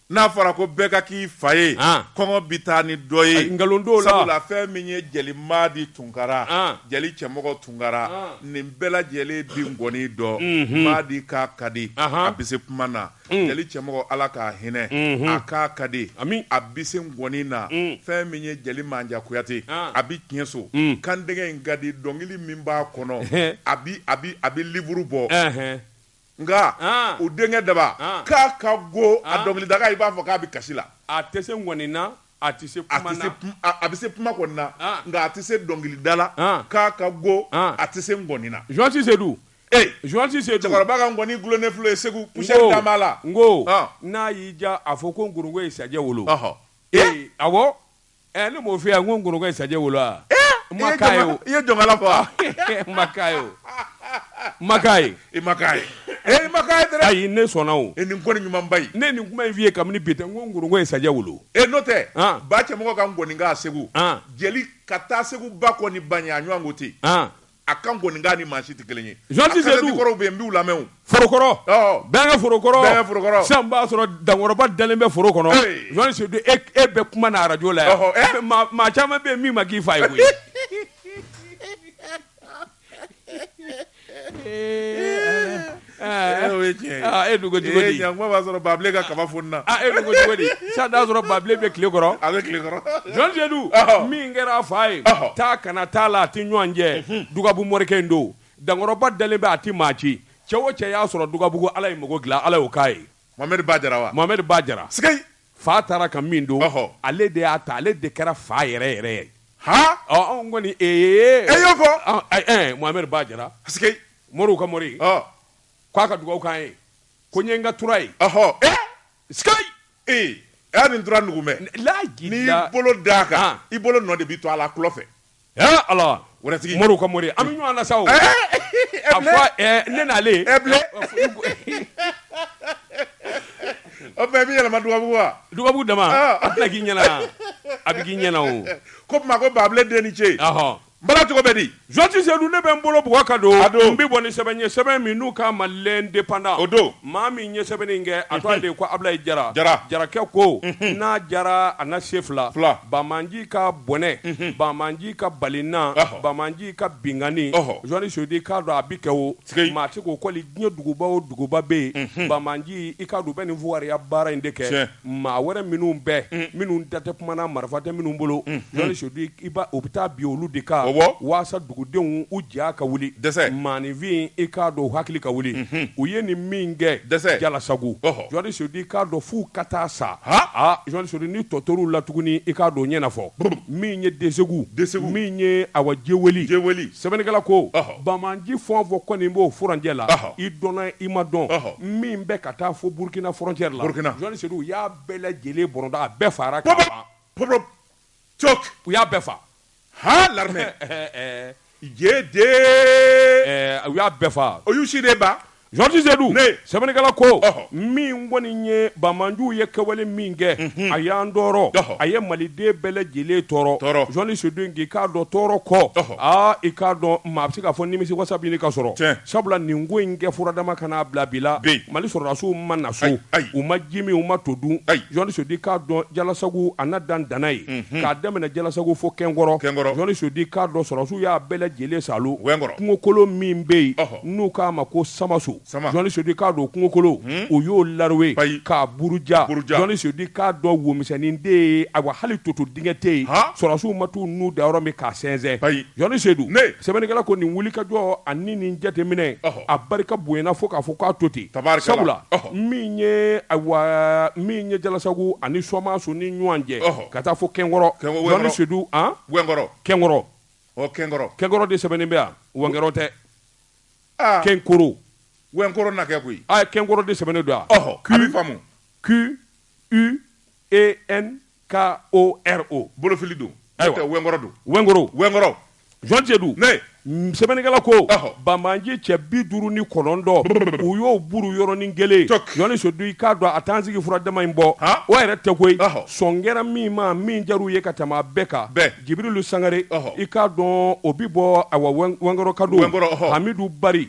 n'a fɔra ko bɛɛ ka k'i fa ye kɔngɔ bɛ taa ni dɔ ye nkalon la sabula fɛn min ye jeli madi tunkara jeli cɛmɔgɔ tunkara nin bɛɛ lajɛlen bi nkɔni dɔn madi kan ka di a bɛ se kuma na jeli cɛmɔgɔ ala k'a hinɛ a kan ka di a bi se ŋɔni na fɛn min ye jeli manja kuyate a bɛ tiɲɛso kan denkɛ in ka di dɔnkili min b'a kɔnɔ a bɛ livre bɔ nka o denkɛ daba kan ka go a dɔnkili daga i b'a fɔ k'a bɛ kasi la a tɛ se ŋɔni na a tɛ se a bɛ se kuma kɔni na nka a tɛ se dɔnkili da la kan ka go a tɛ se ŋɔni na jɔsi se Ee joisi sen cɛkɔrɔba ka nkɔni dulonnen filɛ segu poussière dama b'a la n ko n'a y'i diya a fɔ ko nkoronko ye sajɛ wolo ee awɔ ɛ ne m'o f'i ye n ko nkoronko ye sajɛ wolo wa n ma k'a ye o i ye jɔnkala fɔ wa n ma k'a ye o n ma k'a ye i ma k'a ye ee i ma k'a ye dɛrɛ ayi ne sɔnna o e nin kɔni ɲumanba in ne ye nin kuma in f'i ye kabini bi tɛ n ko nkoronko ye sajɛ wolo ee n'o tɛ ba cɛmɔgɔ ka nkɔni kan segu jeli ka taa segu ba kɔ ni ba ɲɛ a ɲɔgɔn ko tɛ yen a ka nkɔni kan ni maa si tɛ kelen ye Jean Ti Seydou kɔrɔw bɛ yen n b'u lamɛn o forokɔrɔ ɔɔ Bɛnkɛ forokɔrɔ Bɛnkɛ forokɔrɔ sisan n b'a sɔrɔ dankɔrɔba dalen bɛ foro kɔnɔ ee Jean Seydou e k e bɛ kuma na radio la yan ɔhɔ ɛ mais maa maa caman bɛ yen min ma k'i fa ye koyi ee Ala e'a sɔrɔ babilen ka kaba fununa sisan y'a sɔrɔ babilen bɛ tile kɔrɔ a bɛ tile kɔrɔ jean seydou min kɛra a fa ye taa kana t'a la a tɛ ɲɔgɔn jɛ dugabugu morikɛ in don dankɔrɔba dalen bɛ a tɛ maa ci cɛ o cɛ y'a sɔrɔ dugabugu ala ye mako dilan ala k'a ye mamari ba jara mamari ba jara fa taara ka min don ale de y'a ta ale de kɛra fa yɛrɛ yɛrɛ ye h anw kɔni e y'o fɔ mamari ba jara Moriw ka mori k'a ka dugawu k'an ye ko n ye n ka tura ye y'a nin tura nuguman n'i bolo d'a kan i bolo nɔ de bɛ to a la tulɔ fɛ alatigi moriw ka mori an bɛ ɲɔgɔn na sa ne n'ale o bɛ yɛlɛma dugabugu wa dugabugu dama a bɛ k'i ɲɛna a bɛ k'i ɲɛna o ko tuma ko babilen den ni ce N bala cogo bɛ di? Jean Ti Seydou ne bɛ n bolo bugɔ ka don, a don, n bɛ bɔ ni sɛbɛn ye, sɛbɛn min n'u k'a ma l'independant, o don, maa min ye sɛbɛnni in kɛ, a tɔgɔ de ye ko Abilaye Jara, Jara, Jarakɛ ko, unhun, n'a diyara a na se fila, fila, Bamanji ka bɔnɛ, unhun, Bamanji ka balina, ɔhɔ, Bamanji ka binkanni, ɔhɔ, Jean Ti Seydou i k'a dɔn a bɛ kɛ o, sikeyi, maa tɛ k'o kɔli diɲɛ duguba o duguba bɛ yen, unhun, Bamanji i k'a dɔn u bɛ nin fugariya baara in de kɛ, tiɲɛ. maa wɛrɛ minnu bɛɛ minnu da tɛ kuma na marifa tɛ minnu bolo jɔnni sedu u bɛ taa bin olu de kan walasa dugudenw u ja ka wuli maaninfin i k'a dɔn hakili ka wuli u ye nin min kɛ jalasago jɔnni sedu i k'a dɔn fo ka taa sa aa jɔnni sedu ni tɔtɔrɔw la tuguni i k'a dɔn ɲɛnafɔ min ye desagu min ye awa jeweli sɛbɛnnikɛla ko Banbanji fɛn o fɛn kɔni b'o furancɛ la i dɔnna i ma dɔn min bɛ ka taa fo burukina frontière la jɔnni sedu u y'a bɛɛ lajɛlen bɔrɔnda a bɛɛ fara u y'a bɛɛ faa l'armée u y'a bɛɛ faa o y'u si de ban Jɔnni Sedu Ne. sɛbɛnnikɛla ko Ɔhɔ. min kɔni ye banbanjiw ye kɛwale min kɛ a y'an tɔɔrɔ Ɔhɔ. a ye maliden bɛɛ lajɛlen tɔɔrɔ Tɔɔrɔ. Jɔnni Sedu k'i k'a dɔn tɔɔrɔ kɔ Ɔhɔ. aa i k'a dɔn maa bɛ se k'a fɔ nimisi wasa bɛ ɲini ka sɔrɔ Tiɲɛ. sabula nin ko in kɛ furadama ka n'a bila bi la Bi. Mali sɔrɔdasiw ma na so Ayi, ayi. u ma ji min u ma to dun Ayi. Jɔnni Sedu k'a dɔn jalasagu a n'a dan danna ye k'a daminɛ jalasagu fo kɛnkɔrɔ Kɛnkɔrɔ. Jɔnni Sedu k'a dɔn sɔrɔdasiw y'a bɛɛ lajɛlen saalo Wɛnkɔrɔ. kungokolon min bɛ yen Ɔhɔ. n'u k'a ma ko samaso jɔnni sedu i k'a dɔn kungokolo u y'o lawe k'a buruja jɔnni sedu i k'a dɔn womisɛnnin de ye awa hali toto dingɛ tɛ yen sɔrɔsiw ma t'u nun da yɔrɔ min k'a sɛnsɛn jɔnni sedu sɛbɛnnikɛla ko nin wulikajɔ ani nin jateminɛ a barika bonyana fo k'a fɔ k'a to ten sabula min ye min ye jalasago ani samaso ni ɲɔgɔn cɛ ka taa fo kɛnkɔrɔ jɔnni sedu kɛnkɔrɔ ɔ kɛnkɔrɔ kɛnkɔrɔ de sɛbɛnnen bɛ yan wɛnkɔrɔ tɛ ah. kɛnkɔrɔ wɛnkɔrɔ na kɛ koyi a ah, kɛnkoro de sɛbɛnnen don yan ɔhɔ a bɛ faamu q u e n k o r o bolofili don ayiwa wɛnkɔrɔ don wɛnkɔrɔ wɛnkɔrɔ jɔnni sedu ne sɛbɛnnikɛla ko banbanji cɛ bi duuru ni kɔnɔntɔn u y'o buru yɔrɔnin kelen jɔnni sedu i k'a dɔn a t'an sigi furadama in bɔ o yɛrɛ tɛ koyi sɔn kɛra min ma min jar'u ye ka tɛmɛ a bɛɛ kan Jibirilu sangare i k'a dɔn o bɛ bɔ wɛnkɔrɔ kado amidu bari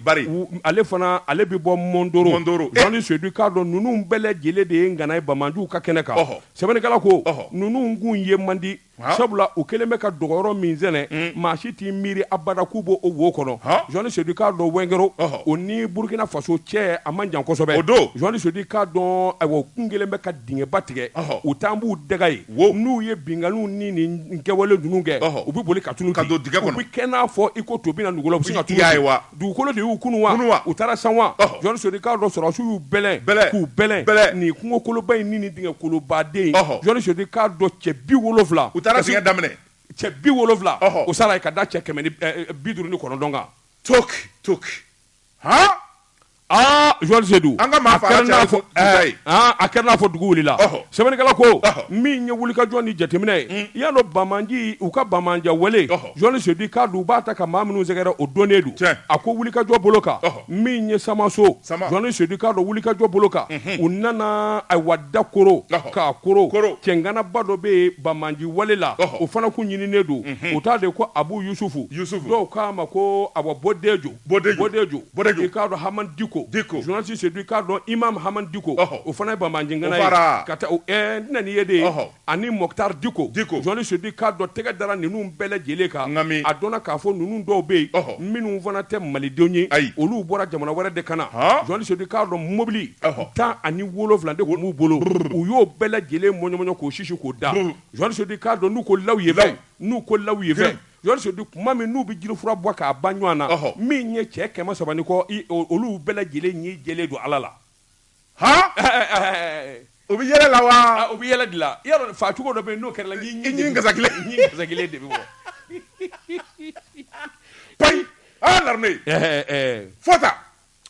ale fana ale bɛ bɔ mɔndoro jɔnni sedu k'a dɔn ninnu bɛɛ lajɛlen de ye ngana ye banbanjiw ka kɛnɛ kan sɛbɛnnikɛla ko ninnu kun ye man di sabula u kɛlen bɛ ka dogoyɔrɔ min sɛnɛ maa si t'i miiri abada k'u b'o wo kɔnɔ jɔnni sedu k'a dɔn wɛnkɔrɔ o ni burukina faso cɛ a man jan kosɛbɛ jɔnni sedu i k'a dɔn awa k'u kɛlen bɛ ka dingɛba tigɛ u taa b'u dogo yen Wo n'u ye binkanniw ni nin kɛwale ninnu kɛ u bɛ boli ka tunun ka don dingɛ kɔnɔ u bɛ kɛ n'a fɔ i ko to bɛna na dugu ka tuya ye wa dugukolo de y'u kunun wa u taara san wa jɔnni sedu k'a dɔn sɔrɔsiw y'u bɛlɛn k'u bɛlɛn nin kungokoloba in ni nin dingɛkoloba de jɔnni sedu k'a dɔn cɛ bi wolowula u taara dingɛ da minɛ cɛ bi wolowula o sara ka da cɛ kɛmɛ bi duuru ni kɔnɔntɔn kan to to sedu a kɛra n'a fɔ dugu wulila sɛbɛnnikɛla ko min ye wulikajɔ ni jateminɛ ye hmm. i y'a dɔn banbaanci u ka banbaanci wale journaliste Sedu k'a dɔn u b'a ta ka maa minnu sɛgɛrɛ o dɔnnen don a ko wulikajɔ bolo kan min ye Samaso journaliste Sedu k'a dɔn wulikajɔ bolo kan hmm. u nana ayiwa dakoro k'a koro cɛŋanaba dɔ bɛ yen banbaanci wale la o fana kun ɲininen don hmm. o tɔgɔ de ko Abu Yusufu dɔw k'a ma ko awa Bodejo Bɔdɛju, Bɔdɛju, Bɔdɛju. i k'a dɔn Haman Diko, Diko. journaliste Sedu i k'a dɔn Imam Haman Diko, Ɔhɔ. o fana ye banbaanci ŋana ye, fara. ka taa o ɛɛ n tɛna n'i ye de, Ɔhɔ. ani Mɔkutari Diko, Diko. journaliste Sedu i k'a dɔn tɛgɛ dara ninnu bɛɛ lajɛlen kan, N ka mi. a dɔnna k'a fɔ ninnu dɔw bɛ yen, Ɔhɔ. minnu fana tɛ malidenw ye, Ayi. olu bɔra jamana wɛrɛ de ka na, Han. journaliste Sedu i k'a dɔn mobili Ɔhɔ. tan ani wolonwula de tun b'u bolo, u y'o bɛɛ lajɛlen mɔɲɔmɔɲɔ k'o sisi k'o da, Brrr. journaliste Sedu i k'a dɔn n'u ko lawuyefɛn, Law. n'u ko lawuyefɛn, Fɛn. Sedu kuma min n'u bɛ jirifura bɔ k'a ban ɲɔgɔn na min ye cɛ kɛmɛ saba ni kɔ olu bɛɛ lajɛlen ɲin jɛlen don Ala la haa u bɛ yɛlɛ la wa u bɛ yɛlɛ de la i y'a dɔn faa cogo dɔ bɛ yen n'o kɛr'i la ɲin gasa kelen de bɛ bɔ payi l'armée fota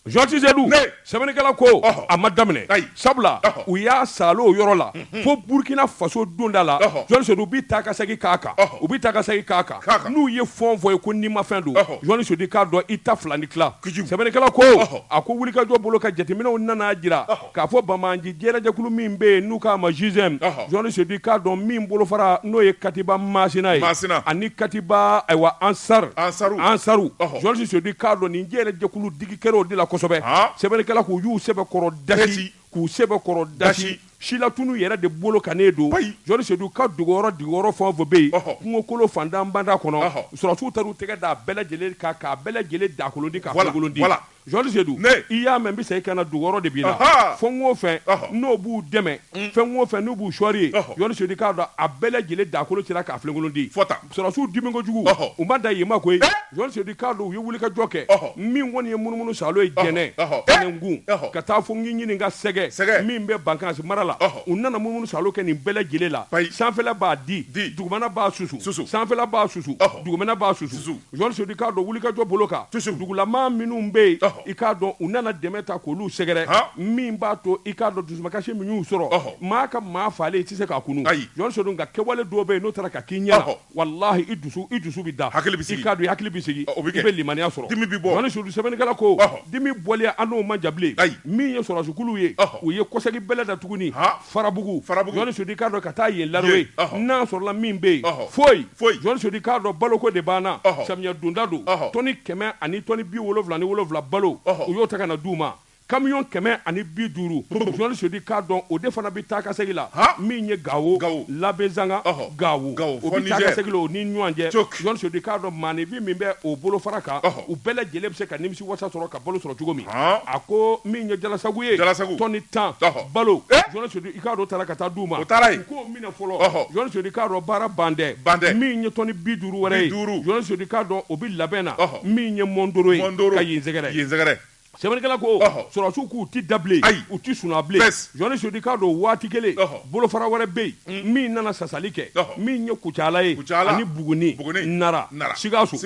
journaliste Sedu sɛbɛnnikɛla ko a ma daminɛ sabula u y'a saalo o yɔrɔ la fo burukina faso donda la journaliste Sedu u bɛ taa ka segin k'a kan u bɛ taa ka segin k'a kan n'u ye fɔnfɔn ye ko nimafɛn don journaliste Sedu k'a dɔn i ta fila ni tila sɛbɛnnikɛla ko a ko wulikajɔ bolo ka jateminɛw nana jira K'a fɔ banbaanci jɛɛrɛjɛkulu min bɛ yen n'u k'a ma GSIM, ɔhɔ, journaliste Sedu k'a dɔn min bolofara n'o ye Katiba Maasina ye, Maasina, ani Katiba, ayiwa, Ansar, Ansaru, Ansaru, ɔhɔ, journaliste Sedu k'a dɔn nin jɛɛrɛjɛkulu digi kɛra o de la kosɛbɛ, haa, sɛbɛnnikɛla k'u y'u sɛbɛkɔrɔ dasi, k'u sɛbɛkɔrɔ dasi, silatunu yɛrɛ de bolo kannen don, payi, journaliste Sedu u ka dogoyɔrɔ dogoyɔrɔ fɛn o fɛn bɛ yen, ɔhɔ, kungokolo fantan banda kɔnɔ, ɔhɔ, sɔrɔdasiw taar'u tɛgɛ d'a bɛɛ lajɛlen kan k'a bɛɛ lajɛlen dakolondi k'a kolokolondi, wala, wala. journaliste Sedu i y'a mɛn n bɛ segin ka na dogoyɔrɔ de b'i la fɛn o fɛn n'o b'u dɛmɛ fɛn o fɛn n'u b'u sɔɔri yen i k'a dɔn a bɛɛ lajɛlen dakolo cira k'a filenkolondi sɔrɔdasiw dimi kojugu u ma da yen ma koyi journaliste Sedu k'a dɔn u ye wulikajɔ kɛ min kɔni ye munumunu saalo ye Jɛnɛ Tɛnɛnkun ka taa fo ɲini ɲini ka Sɛgɛ Sɛgɛ min bɛ Bankasi mara la u nana munumunu saalo kɛ nin bɛɛ lajɛlen la sanfɛla b'a digi dugumana b'a susu sanfɛla b'a susu dugumana b'a susu journaliste Sedu i k'a dɔn wulikajɔ bolo kan dugulama minnu bɛ yen i k'a dɔn u nana dɛmɛ ta k'olu sɛgɛrɛ min b'a to i k'a dɔn dusumakasi min y'u sɔrɔ maa ka maa faalen i tɛ se k'a kunun journaliste Sedu nka kɛwale dɔ bɛ yen n'o taara ka k'i ɲɛ na walayi i dusu bɛ da i k'a dɔn i hakili bɛ sigi i bɛ limaniya sɔrɔ dimi bɛ bɔ Sedu sɛbɛnnikɛla ko dimi bɔlen an n'o man jan bilen min ye sɔrɔdasikulu ye u ye kɔsegin bɛlɛn da tuguni farabugu jɔn sudi k'a dɔn ka taa ye lalo ye n'a sɔrɔla min bɛ yen foyi foyi jɔn sudi k'a dɔn baloko de banna samiya donda don tɔni kɛmɛ ani tɔni bi wolonwula ni wolonwula balo u y'o ta ka na d'u ma kamiyɔn kɛmɛ ani bi duuru jɔn sudi k'a dɔn o de fana bɛ taakasegin la min ye gawo labezanga gawo o bɛ taakasegin la o ni ɲɔgɔn cɛ jɔn sudi k'a dɔn maanifin min bɛ o bolofara kan u bɛɛ lajɛlen bɛ se ka nimisi wasa sɔrɔ ka balo sɔrɔ cogo min Haan. a ko min ye jalasagu ye Jalasagu. tɔni tan Ɔhɔ. balo Eh? jɔni sodi i k'a dɔn taara ka taa d'u ma O taara yen. u k'o minɛ fɔlɔ Ɔhɔ. jɔni sodi k'a dɔn baara bandɛ Bandɛ. min ye tɔni bi duuru wɛrɛ ye Bi duuru. jɔni sodi k'a dɔn o bi labɛn na Ɔhɔ. min ye mɔndoro ye Mɔndoro. ka yen sɛgɛrɛ Yen sɛgɛrɛ. sɛbɛnnikɛla ko Ɔhɔ. sɔrɔsiw k'u ti da bilen Ayi. u ti suna bilen Bɛs. jɔni sodi k'a dɔn waati kelen Ɔhɔ. bolofara wɛrɛ bɛ yen min nana sasali kɛ min ye kucala ye ani buguni nara sikaso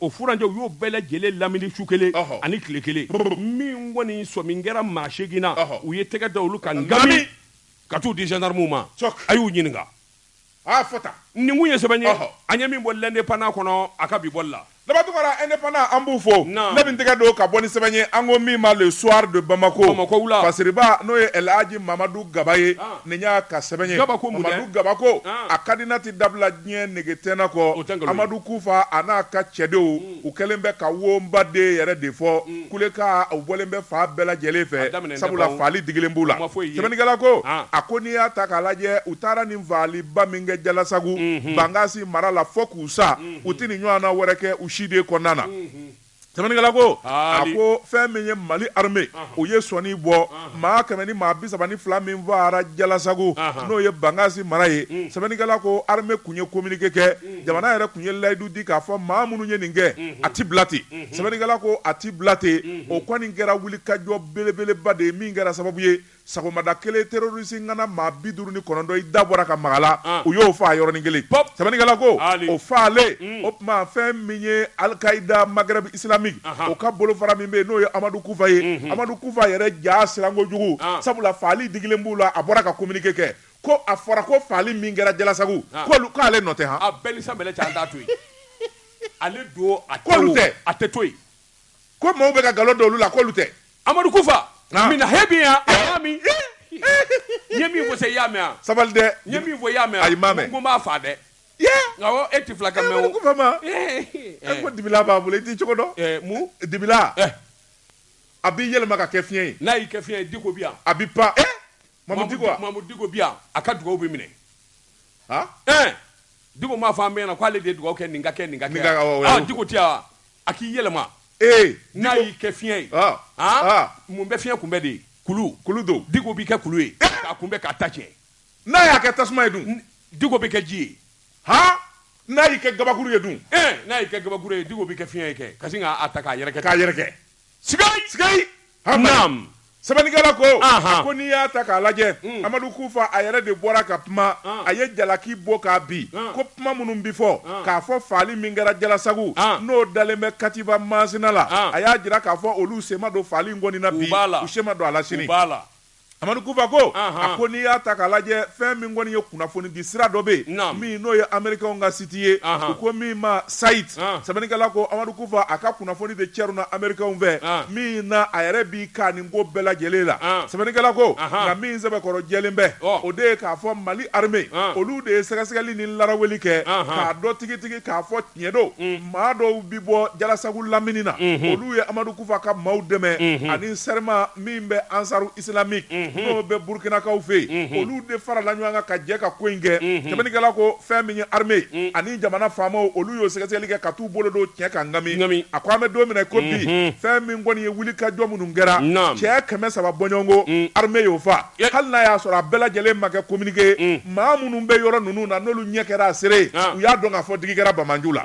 o furancɛ u y'o bɛɛ lajɛlen lamini su kelen ani tile kelen min kɔni sɔmi kɛra maa seegin na u ye tɛgɛ da olu kan nkabi ka taa u di zandarmuw ma a y'u ɲininka fɔ nin kun ye sɛbɛn ye an ye min bɔ l'indépendant kɔnɔ a ka bi bɔli la Labaduguwara indépendant an b'u fo, naamu, ne bɛ n tɛgɛ don ka bɔ ni sɛbɛn ye an ko min ma le soir de Bamako, Bamakɔ wula, fasiriba n'o ye El Hadji Mamadu Gaba ye, an, nin y'a ka sɛbɛn ye, Gaba ko mun dɛ? Mamadu Gaba ko, an, a ka di n na tɛ dabila diɲɛ nege tɛ n na kɔ, o tɛ nkalon ye, Amadu Kufa a n'a ka cɛdenw, un, u kɛlen bɛ ka wonba den yɛrɛ de fɔ, un, kuleka u bɔlen bɛ fan bɛɛ lajɛlen fɛ, a daminɛnen tɛ sabula bawo, faali digilen b'u la, u ma foyi ye, sɛbɛnnikɛla ko, an, a ko n'i y'a ta k'a lajɛ u taara nin faaliba min kɛ Jalasagu, unhun, Bangasi mara la fo k'u sa, un. u tɛ nin ɲɔgɔnna wɛrɛ kɛ u si de kɔnɔna na sɛbɛnnikɛla ko a ko fɛn min ye mali arme u ye sɔnni bɔ maa kɛmɛ ni maa bi saba ni fila min faara jalasagu n'o ye bangasi mara ye sɛbɛnnikɛla ko arme kun ye kominike kɛ jamana yɛrɛ kun ye layidu di k'a fɔ maa minnu ye nin kɛ a tɛ bila ten sɛbɛnnikɛla ko a tɛ bila ten o kɔni kɛra wulikajɔ belebeleba de ye min kɛra sababu ye Sɔgɔmada kelen terroriste ŋana maa bi duuru ni kɔnɔntɔn i da bɔra ka maga la, an, u y'o faa yɔrɔnin kelen, pɔp, sɛbɛnnikɛla ko, aali, o faalen, un, o tuma fɛn min ye Al-Qaida Maghreb islamique, anhan, o ka bolofara min bɛ yen n'o ye Amadu Kufa ye, unhun, Amadu Kufa yɛrɛ ja siran kojugu, an, sabula faali digilen b'u la, a bɔra ka communiqué kɛ ko a fɔra ko faali min kɛra Jalasagu, an, k'olu k'ale nɔ tɛ han, a b'e ni sanbɛlɛ cɛ an t'a to yen, ale don a tɛ, k'olu tɛ, a tɛ to yen. ko maaw bɛ ka nkalon da olu la k'olu tɛ amadu kufa Naamu. mina he bin yan a y'a min n ye min fɔ se i y'a mɛn yan sabali dɛ n ye min fɔ i y'a mɛn Ayi, n m'a mɛn. n ko n b'a faa dɛ ye awɔ e ti filakan mɛn amadu o kufa ma Eh, e ko dibila b'a bolo i t'i cogo dɔn eh, mun dibila Eh. a b'i yɛlɛma ka kɛ fiɲɛ ye n'a y'i kɛ fiɲɛ ye diko bi yan a bɛ pan eh diko bi yan a ka dugawu bɛ minɛ diko m'a fɔ an bɛɛ ɲɛ na k'ale de ye dugawu kɛ nin ka kɛ nin diko tɛ yan wa a k'i yɛlɛma n'a y'i kɛ fiɲɛ ye mun bɛ fiɲɛ kunbɛn dɛ kulu don diko b'i kɛ kulu ye k'a kunbɛn k'a ta tiɲɛ n'a y'a kɛ tasuma ye dun diko b'i kɛ ji ye h n'a y'i kɛ kabakuru ye dun n'a y'i kɛ kabakuru ye diko b'i kɛ fiɲɛ ye ka sin k'a ta k'a yɛrɛkɛ yɛrɛ sɛbɛnnikɛla ko a ko n'i y'a ta k'a lajɛ hmm. amadu kufa a yɛrɛ de bɔra ka kuma ah. a ye jalaki bɔ k'a bin ah. ko kuma minnu bɛ fɔ ah. k'a fɔ faali min kɛra jalasagu n'o dalen bɛ katiba masina la a y'a jira k'a fɔ olu sen ma don faali in kɔni na bi u sen ma don a la sini Amadu Kufa ko, a ko n'i y'a ta k'a lajɛ fɛn min kɔni ye kunnafoni di sira dɔ bɛ yen min n'o ye Amerikɛnw ka siti ye u ko min ma Sait, sɛbɛnnikɛla ko Amadu Kufa a ka kunnafoni de cɛruna Amerikɛnw fɛ min na a yɛrɛ b'i ka nin ko bɛɛ lajɛlen la. Sɛbɛnnikɛla ko, nka min sɛbɛkɔrɔ jɛlen bɛ o de ye k'a fɔ Mali armée olu de ye sɛgɛsɛgɛli ni laraweli kɛ k'a dɔn tigitigi k'a fɔ Tiɲɛ don maa dɔw bɛ bɔ jalasagu lamini na olu ye amadu kufa ka maaw dɛmɛ ani serima min bɛ ansaru isilamiki n'o bɛ burukinakaw fɛ yen olu de farala ɲɔgɔn kan ka jɛ ka ko in kɛ sɛbɛnnikɛla ko fɛn min ye armée ani jamana faamaw olu y'o sɛgɛsɛgɛli kɛ ka t'u bolo don tiɲɛ kan nka min a ko an bɛ don min na ko bi fɛn min kɔni ye wulikajɔ minnu kɛra cɛ kɛmɛ saba bɔɲɔgɔnko armée y'o faa hali n'a y'a sɔrɔ a bɛɛ lajɛlen ma kɛ kominike maa minnu bɛ yɔrɔ ninnu na n'olu ɲɛ kɛra a seere ye u y'a dɔn k'a fɔ digi kɛra banbaanciw la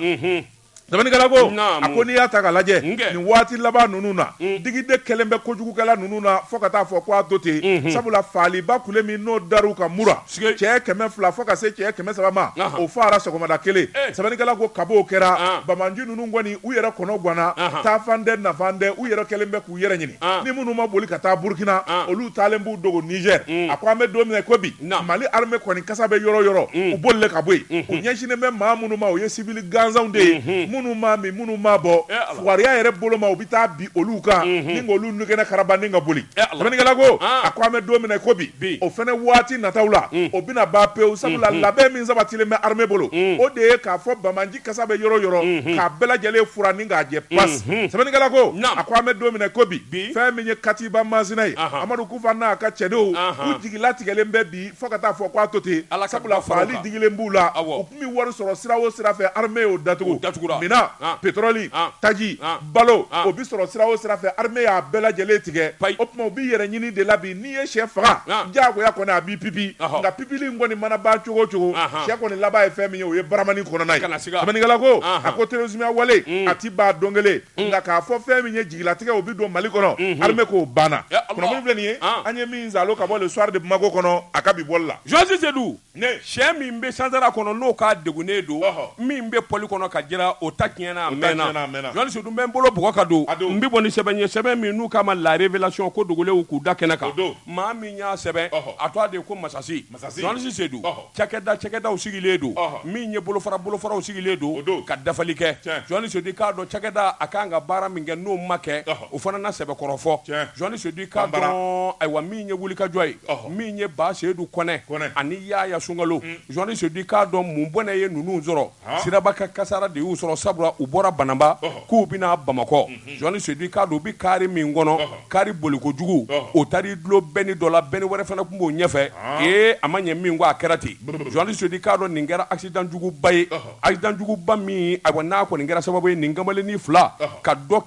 sɛbɛnnikɛla ko a ko n'i y'a ta k'a lajɛ nin waati laban ninnu na digi de kɛlen bɛ kojugukɛla ninnu na fo ka taa fɔ ko a to ten sabula faaliba kule min n'o dar'u kan mura cɛ kɛmɛ fila fo ka se cɛ kɛmɛ saba ma o faara sɔgɔmada kelen sɛbɛnnikɛla ko kab'o kɛra banbaanci ninnu kɔni u yɛrɛ kɔnɔ ganna taafan tɛ nafan tɛ u yɛrɛ kɛlen bɛ u yɛrɛ ɲini ni minnu ma boli ka taa burukina olu taalen b'u dogo nizɛr a ko an bɛ don min na ko bi mali armée kɔni kasa bɛ yɔrɔ yɔrɔ u boli ka bɔ yen u ɲɛsinnen bɛ maa minnu ma o ye siwili gansanw de ye minnu ma min minnu ma bɔ fugariya yɛrɛ bolo ma u bɛ taa bin olu kan ni olu nɛgɛgɛnna karaba ni ka boli sɛbɛnnikɛla ko a ko an bɛ don min na ko bi o fana waati nata la o bɛna ban pewu sabula labɛn min sabatilen bɛ armée bolo o de ye k'a fɔ bama kasa bɛ yɔrɔ yɔrɔ k'a bɛɛ lajɛlen furan ni k'a jɛ pas sɛbɛnnikɛla ko a ko an bɛ don min na ko bi fɛn min ye katiba masina ye amadu kufa n'a ka cɛdenw u jigi latigɛlen bɛ bi fo ka taa fɔ k'a to ten sabula farali digilen b'u la u tun bɛ wari sɔrɔ sira o sira fɛ armée y'o datugu min na petɔrɔli taji balo o bɛ sɔrɔ sira o sira fɛ armée y'a bɛɛ lajɛlen tigɛ o tuma u bɛ yɛrɛɲini de la bi n'i ye sɛ faga diyagoya kɔni a b'i pipi nka pipili in kɔni mana ban cogo o cogo sɛ kɔni laban ye fɛn min ye o ye baramani kɔnɔna ye sɛbɛnnikɛla ko a ko terrorisme wale a tɛ ban don kelen nka k'a fɔ fɛn min ye jigilatigɛ o bɛ don Mali kɔnɔ armée k'o banna kunnafoni filɛ nin ye an ye min zalo ka bɔ le soir de Bamako kɔnɔ a ka bi bɔli la jɔnni Sedu Sɛ min bɛ sansara kɔnɔ n'o ka degunnen don min bɛ poli kɔnɔ ka jiran o ta tiɲɛna a mɛnna jɔnni sedu n bɛ n bolo bugɔ ka don n bɛ bɔ ni sɛbɛn ye sɛbɛn min n'u k'a ma la révélation ko dogolenw k'u da kɛnɛ kan maa min y'a sɛbɛn a tɔgɔ de ko masasi jɔnni sedu cakɛda cakɛdaw sigilen don min ye bolofara bolofaraw sigilen don ka dafali kɛ jɔnni sedu k'a dɔn cakɛda a ka kan ka baara min kɛ n'o ma kɛ O fana na sɛbɛkɔrɔ fɔ jɔnni sedu k'a dɔn ayiwa min ye wulikajɔ ye min ye ba seyidu kɔnɛ ani yaya sunkalo jɔnni sedu k'a dɔn mun bɔnɛ ye ninnu sɔrɔ siraba ka kasara de y'u sɔrɔ sabula u bɔra banamba k'u bɛna bamakɔ jɔnni sedu k'a dɔn u bɛ kari min kɔnɔ kari bolikojugu o taar'i dulon bɛni dɔ la bɛni wɛrɛ fana tun b'o ɲɛfɛ ee a ma ɲɛ min kɔ a kɛra ten jɔnni sedu k'a dɔn nin kɛra accident juguba ye accident juguba min ayiwa n'a kɔni kɛra sababu ye nin kamalennin fila ka dɔ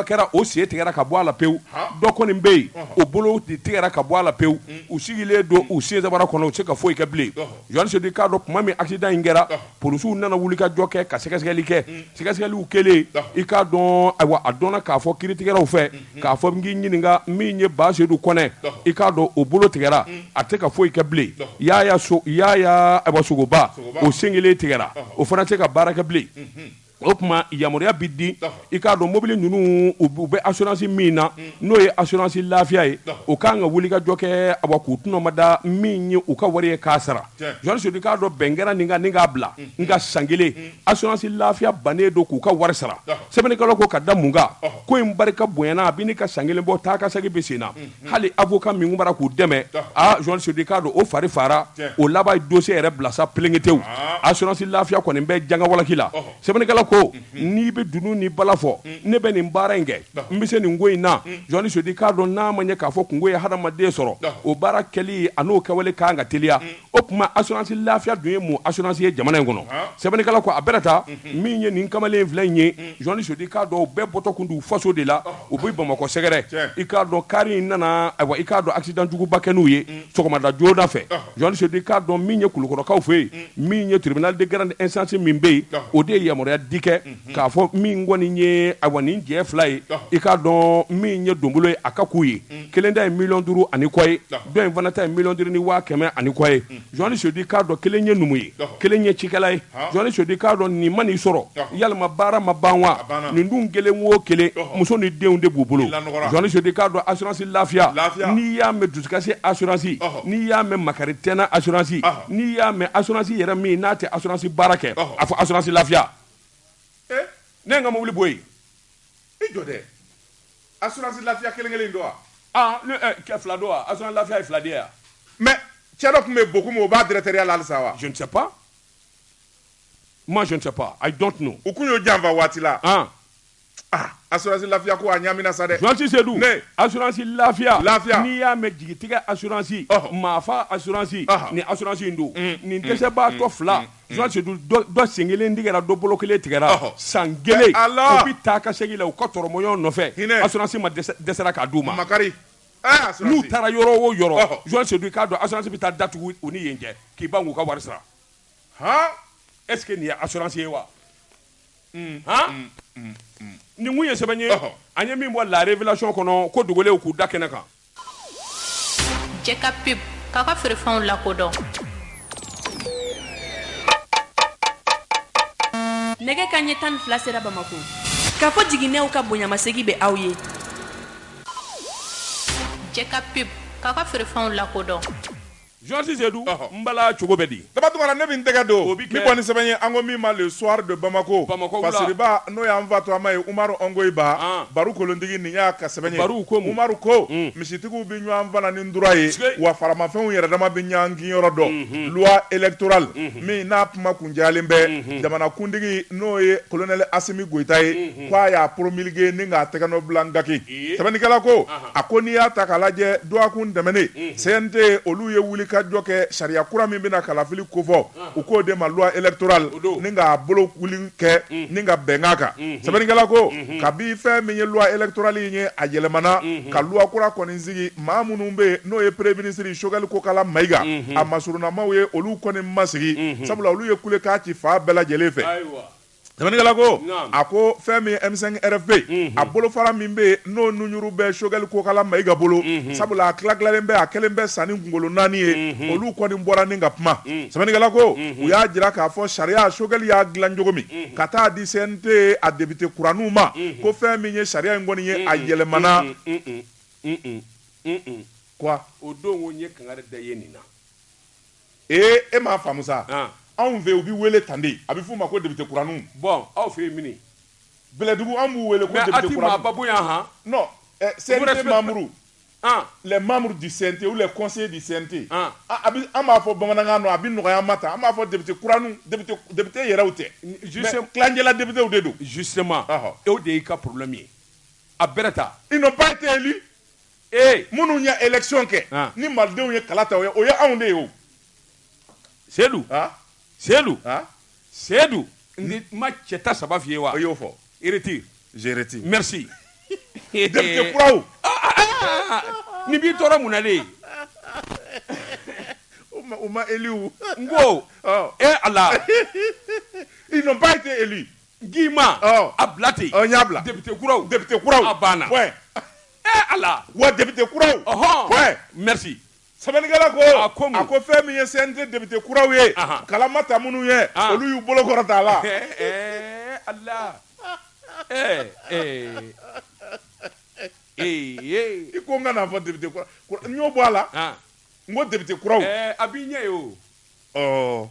kɛra o sen tigɛra ka bɔ a la pewu dɔ kɔni bɛ yen o bolo de tigɛra ka bɔ a la pewu u sigilen don u sen sabara kɔnɔ u tɛ se ka foyi kɛ bilen jɔnni sedu k'a dɔn tuma min accident in kɛra polisiw nana wulikajɔ kɛ ka sɛgɛsɛgɛli kɛ sɛgɛsɛgɛliw kɛlen i k'a dɔn ayiwa a dɔnna k'a fɔ kiiritigɛlaw fɛ k'a fɔ n k'i ɲininka min ye ba sedu kɔnɛ i k'a dɔn o bolo tigɛra a tɛ se ka foyi kɛ bilen yaya sogoba o sen kelen tigɛra o fana tɛ se ka baara kɛ bilen o tuma yamaruya bɛ di i k'a dɔn mobili ninnu u bɛ assurance min na n'o ye assurance lafiya ye o kan ka wulikajɔ kɛ awa k'u tɔnɔmada min ye u ka wari ye k'a sara Sedu k'a dɔn bɛn kɛra nin kan nin k'a bila nka san kelen assurance lafiya bannen don k'u ka wari sara sɛbɛnnikɛla ko ka da mun kan ko in barika bonyana a bɛ ɲini ka san kelen bɔ taa ka segin bɛ sen na hali avocat min tun b'a ra k'u dɛmɛ a jɔnni sedu k'a dɔn o fari fara o laban ye dossier yɛrɛ bila sa pelenkete assurance lafiya kɔni bɛ janga walaki la sɛbɛnnikɛla ko n'i bɛ dunun ni bala fɔ ne bɛ nin baara in kɛ N bɛ se nin ko in na jɔnni sedu k'a dɔn n'a ma ɲɛ k'a fɔ kunko ye hadamaden sɔrɔ o baara kɛli an'o kɛwale ka kan ka teliya o tuma assurance lafiya dun ye mun assurance ye jamana in kɔnɔ sɛbɛnnikɛla ko a bɛɛ ta min ye nin kamalen fila in ye jɔnni sedu k'a dɔn u bɛɛ bɔtɔ tun don u faso de la u bɛ Bamakɔ sɛgɛrɛ i k'a dɔn car in nana ayiwa i k'a dɔn accident juguba kɛ n'u ye sɔgɔmada joona fɛ jɔnni sedu k'a dɔn min ye kulukɔrɔkaw fɛ yen min ye tribunal de grande instance min bɛ yen o de ye yamaruya di kɛ k'a fɔ min kɔni ye ayiwa nin cɛ fila ye i k'a dɔn min ye donbolo ye a ka k'u ye kelen ta ye miliyɔn duuru ani kɔ ye dɔ in fana ta ye miliyɔn duuru ni waa kɛmɛ ani kɔ ye journaliste Sedu k'a dɔn kelen ye numu ye kelen ye cikɛla ye journaliste Sedu k'a dɔn nin man'i sɔrɔ yalima baara ma ban wa nin dun kelen wo kelen muso ni denw de b'u bolo journaliste Sedu k'a dɔn assurance lafiya n'i y'a mɛn dusukasi assurance n'i y'a mɛn makari tɛna assurance n'i y'a mɛn assurance yɛrɛ min n'a tɛ assurance baara kɛ a fɔ assurance lafiya ne ye n ka mobili bɔ yen i jɔ dɛ assurance lafiya kelen kelen don wa ah ne eh, kɛ fila don wa assurance lafiya ye fila de ye wa mais cɛ dɔ tun bɛ Bokum o b'a directeurya la halisa wa je ne sais pas moi je ne sais pas i don't know u tun y'o janfa waati la ah Ah, assurance lafiya ko a ɲamina sa dɛ journaliste Sedu ne assurance lafiya lafiya n'i y'a mɛn jigitigɛ assurance maafa assurance ni assurance in don mm, nin mm, dɛsɛbaatɔ mm, fila journaliste Sedu dɔ sen kelen tigɛra dɔ bolo kelen tigɛra san kelen u bɛ taa ka segin la u ka tɔrɔmɔɲɔgɔn nɔfɛ assurance ma dɛsɛra k'a d'u ma makari ah, n'u taara yɔrɔ o yɔrɔ journaliste Sedu i k'a dɔn assurance bɛ taa datugu u ni yen cɛ k'i ban k'u ka wari sara est-ce que nin ye assurance ye wa nin tun ye sɛbɛn ye an ye min bɔ la révélation kɔnɔ ko dogolenw k'u da kɛnɛ kan Jɛka pub k'a ka feerefɛnw lakodɔn nɛgɛkanɲɛ tan ni fila sera bamakɔ Kafo Jiginɛw ka bonyamasegin bɛ aw ye Jɛka pub k'a ka feerefɛnw lakodɔn Journaliste Sedu, ɔhɔ, n bala cogo bɛ di? Daba Tunkara ne bɛ n tɛgɛ don, o bɛ kɛ, nin kɔni sɛbɛn ye an ko min ma le soir de Bamako, Bamakɔ wula, fasiriba n'o y'an fa tɔgɔma ye Umaru Ɔngoyiba, an, Baru kolontigi nin y'a ka sɛbɛn ye, Baru ko mun? Umaru ko, un, misitigiw bɛ ɲɔgɔn fana ni ndura ye, sikei, wa faramafɛnw yɛrɛdama bɛ ɲɔgɔn kinyɔrɔ dɔn, unhun, loi électorale, unhun, min n'a kuma kuncayalen bɛ, unhun, jamanakuntigi n'o ye Colonel Asimi Goyita ye, unhun, k'a y'a promulguer ni k'a tɛgɛnɔbila ngaki. sɛbɛnnikɛla ko a ko n'i y'a ta k'a lajɛ dɔgɔkun tɛmɛnen CNT olu ye wulikajɔ kɛ sariya kura min bɛna kalafili kofɔ u k'o de ma loi électorale ni k'a bolowuli kɛ ni ka bɛnkan kan sɛbɛnnikɛla ko kabi fɛn min ye loi électorale in ye a yɛlɛmana ka loi kura kɔni sigi maa minnu bɛ yen n'o ye premier ministre Choguel Kokala Mayiga a masurunamaw ye olu kɔni ma sigi sabula olu ye kulekan ci fan bɛɛ lajɛlen fɛ. Sɛbɛnnikɛla ko a ko fɛn min ye M5 RFP a bolofara min bɛ yen n'o nunjuru bɛ Choguel Kokala Mayiga bolo sabula a tila tilalen bɛ a kɛlen bɛ sanin kunkolo naani ye olu kɔni bɔra ni ka kuma sɛbɛnnikɛla ko u y'a jira k'a fɔ sariya Choguel y'a dilan cogo min ka taa di CNT a député kuraninw ma ko fɛn min ye sariya in kɔni ye a yɛlɛmana o don o ye kangari da ye nin na Ee e m'a faamu sa, an, anw fɛ u bɛ wele tan de, a bɛ f'u ma ko député kuraninw, bon aw fɛ yen mini? Bɛlɛdugu anw b'u wele ko député kuraninw, mais a tɛ maaba bonya han, non, ɛ CNT membres, an, les membres du CNT ou les conseillers du CNT, an, a bɛ an b'a fɔ bamanankan na a bɛ nɔgɔya an ma tan, an b'a fɔ député kuraninw, député député yɛrɛw tɛ, juste, mais tilancɛla députés de don, justement, ɔhɔ, o de y'i ka problème ye, a bɛrɛ ta, ils n'ont pas été élus Ee minnu ye election kɛ An. ni malidenw ye kala ta o ye o ye anw de ye o Seydou An. Seydou An. Seydou n tɛ n ma cɛ ta saba f'i ye wa i y'o fɔ i retire je retire merci député kuraw nin b'i tɔɔrɔ mun na de u ma u ma élu n ko Ɔ. ee Ala Ils n'ont pas été élus Guima a bila ten n y'a bila député kuraw a banna Ala wa député kuraw point merci sɛbɛnnikɛla ko a ko fɛn min ye CNT député kuraw ye kala ma ta minnu ye olu y'u bolo kɔrɔta a la Ala ee ee i ko n kan'a fɔ député kuraw n y'o bɔ a la n ko député kuraw a b'i ɲɛ ye o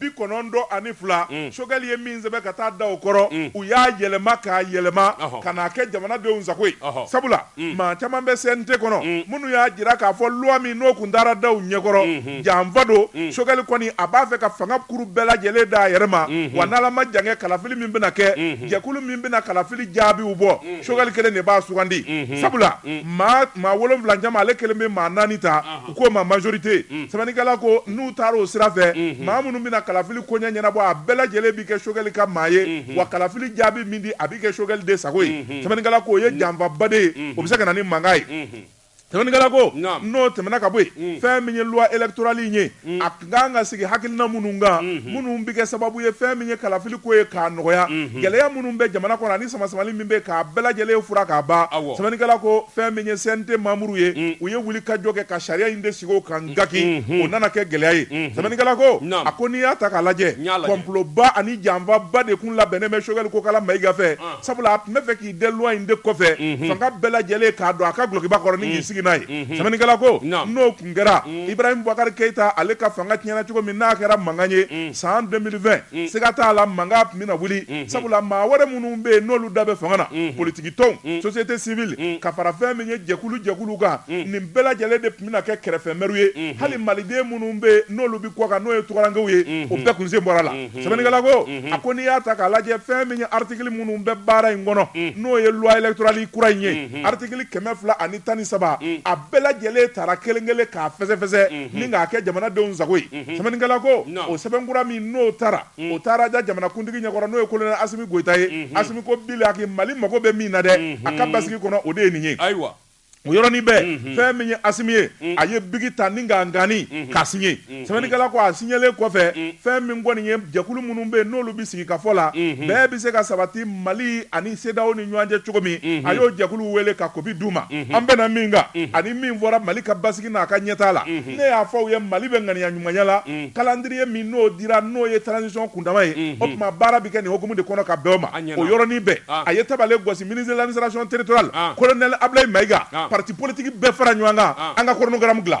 bi kɔnɔntɔn ani fila Choguel ye min sɛbɛn ka taa da u kɔrɔ u y'a yɛlɛma k'a yɛlɛma ka n'a kɛ jamanadenw sago ye sabula maa caman bɛ CNT kɔnɔ minnu y'a jira k'a fɔ loi min n'o tun taara da u ɲɛkɔrɔ janfa don Choguel kɔni a b'a fɛ ka fanga kuru bɛɛ lajɛlen da a yɛrɛ ma wa n'Ala ma jankɛ kalafili min bɛna kɛ jɛkulu min bɛna kalafili jaabiw bɔ Choguel kelen de b'a sugandi sabula maa wolonwula cɛma ale kelen bɛ maa naani ta u k'o ma majorité mm. sɛbɛnnikɛla ko n'u taara o sira fɛ mm-hmm. maa minnu bɛna kalafili koɲɛ ɲɛnabɔ a bɛɛ lajɛlen bɛ kɛ Choguel ka maa ye mm-hmm. wa kalafili jaabi min di a bɛ kɛ Choguel de sago ye mm-hmm. sɛbɛnnikɛla ko o ye janfaba de ye o bɛ se ka na ni mankan ye sɛbɛnnikɛla ko n'o tɛmɛna ka bɔ yen mm. fɛn min ye loi électorale in ye mm. a ka kan ka sigi hakilina minnu kan minnu bɛ kɛ sababu ye fɛn min ye kalafili ko ye k'a nɔgɔya gɛlɛya minnu bɛ jamana kɔnɔ ani sama samani min bɛ k'a bɛɛ lajɛlen fura k'a ban sɛbɛnnikɛla ko fɛn min ye CNT membres ye u ye wuli ka jɔ kɛ ka sariya in de sigi o kan nka k'o nana kɛ gɛlɛya ye sɛbɛnnikɛla ko a ko n'i y'a ta k'a lajɛ complotba ani janfaba de kun labɛnnen bɛ Choguel Kokala Mayiga fɛ sabula a tun bɛ fɛ k'i dɛn loi in de kɔfɛ fanga bɛɛ lajɛlen k'a don a ka dulokiba kɔrɔ ni k'i sigi n'a ye sɛbɛnnikɛla ko n'o Tun kɛra Ibrahim Boubacar Keita ale ka fanga tiɲɛna cogo min n'a kɛra mankan ye san deux mille vingt siga t'a la mankan tun bɛna wuli sabula maa wɛrɛ minnu bɛ yen n'olu da bɛ fanga na politikitɔnw société civile ka fara fɛn min ye jɛkulu jɛkulu kan nin bɛɛ lajɛlen de tun bɛna kɛ kɛrɛfɛmɛriw ye hali maliden minnu bɛ yen n'olu bɛ kɔkan n'o ye tungarankew ye u bɛɛ kun sen bɔra a la sɛbɛnnikɛla ko a ko n'i y'a ta k'a lajɛ fɛn min ye article minnu bɛ baara in kɔnɔ n'o ye loi électorale kura in ye article kɛmɛ fila ani tan ni saba a bɛɛ lajɛlen taara kelen kelen k'a fɛsɛfɛsɛ ni k'a kɛ jamanadenw sago ye sɛbɛnnikɛla ko o sɛbɛnkura min n'o taara o taara da jamanakuntigi ɲɛkɔrɔ n'o ye colonel Asimi Goyita ye Asimi ko bilaki Mali mago bɛ min na dɛ a ka basigi kɔnɔ o de ye nin ye ayiwa o yɔrɔnin bɛɛ fɛn min ye Asimi ye a ye biki ta ni k'a ngani k'a signé sɛbɛnnikɛla ko a signelen kɔfɛ fɛn min kɔni ye jɛkulu minnu bɛ yen n'olu bɛ sigi ka fɔ la bɛɛ bɛ se ka sabati Mali ani CEDEAO ni ɲɔgɔn cɛ cogo min a y'o jɛkuluw wele ka kopi d'u ma an bɛnna min kan ani min fɔra Mali ka basigi n'a ka ɲɛtaa la ne y'a fɔ u ye Mali bɛ ŋaniya ɲumanya la calendrier min n'o dira n'o ye transition kundama ye o tuma baara bɛ kɛ nin hokumu de kɔnɔ ka bɛn o ma o yɔrɔnin bɛɛ a ye tabale gosi ministre de l'administration territoriale colonel Abilayi Mayiga parti politique bɛɛ fara ɲɔgɔn kan an ka chronogramme dilan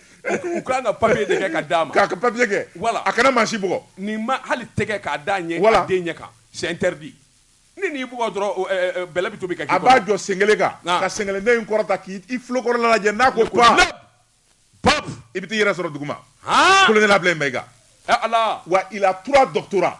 U ka kan ka papiye de kɛ ka d'a ma k'a ka papiye kɛ wala a kana maa si bugɔ nin ma hali tɛgɛ k'a d'a ɲɛ wala den ɲɛ kan c'est interdit ni n'i bugɔ dɔrɔn bɛlɛ bɛ tobi ka a b'a jɔ sen kelen kan ka sen kelen den in kɔrɔta k'i i tulo kɔrɔla lajɛ n'a ko pap pap i bɛ t'i yɛrɛ sɔrɔ duguma colonel Abilayi Mayiga ala wa il a trois doctorats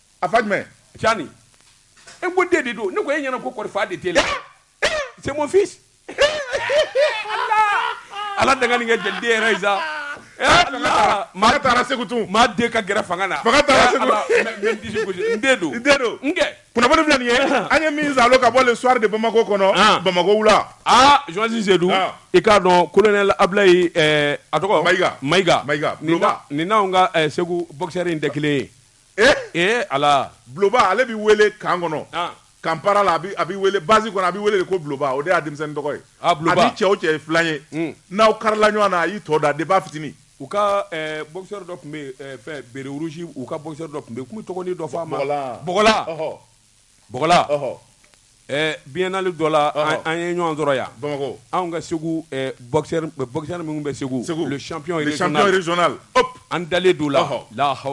a fa jumɛn cani e ko den de don ne ko e ɲɛna ko kɔri fa de t'e la c'est mon fils ala dangani kɛ jeli den yɛrɛ sa Allah maa taara segu tun maa den ka gɛrɛ fanga na fanga taara segu n disi gosi n den don n den don n kɛ kunnafoni filɛ nin ye an ye min zalo ka bɔ le soir de Bamako kɔnɔ ah. Bamako wula aa ah, Joasi Sedu ah. i k'a dɔn colonel Ablayi eh, a tɔgɔ Mayiga Mayiga Mayiga nin n'anw ka eh, segu boxeur in tɛ kelen ye Eh? Eh, ala Bloba ale bɛ wele camp kɔnɔ ah. camp para la a bɛ wele base kɔnɔ a bɛ wele de ko Bloba o de y'a denmisɛnnin tɔgɔ ye ah, a ni cɛ o cɛ ye filan ye hmm. n'aw karila ɲɔgɔn na a y'i tɔ da depuis a fitinin u ka eh, boxeur dɔ tun bɛ yen fɛn béret rouge u ka boxeur dɔ tun bɛ yen k'u tɔgɔnin dɔ fɔ a ma bɔgɔla bɔgɔla Bla biinali dɔ la an ye ɲɔgɔn sɔrɔ yan anw ka segu minnu bɛ segu segu an dalen don la laha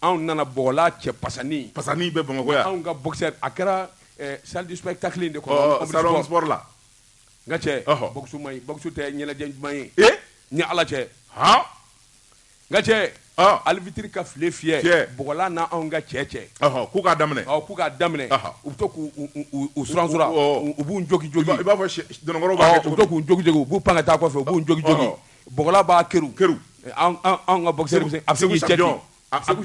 anw nana bla cɛ pasani pa bɛ bamakɔ anw ka a kɛra sadisu tali de la n ka cɛsu tɛ ɲɛnajɛ ɲuman ye ni ala cɛ Nka cɛ alifitiriri ka fi fiyɛ bla n' anw ka cɛ cɛ k'u k'a daminɛ k'u k'a daminɛ u bɛ to k' s u b'u jogin joli i b'a fɔ k'u jogin u b'u pan ka taa fɛ u b'u jogin bla b'a ki anw ka bɔ a segu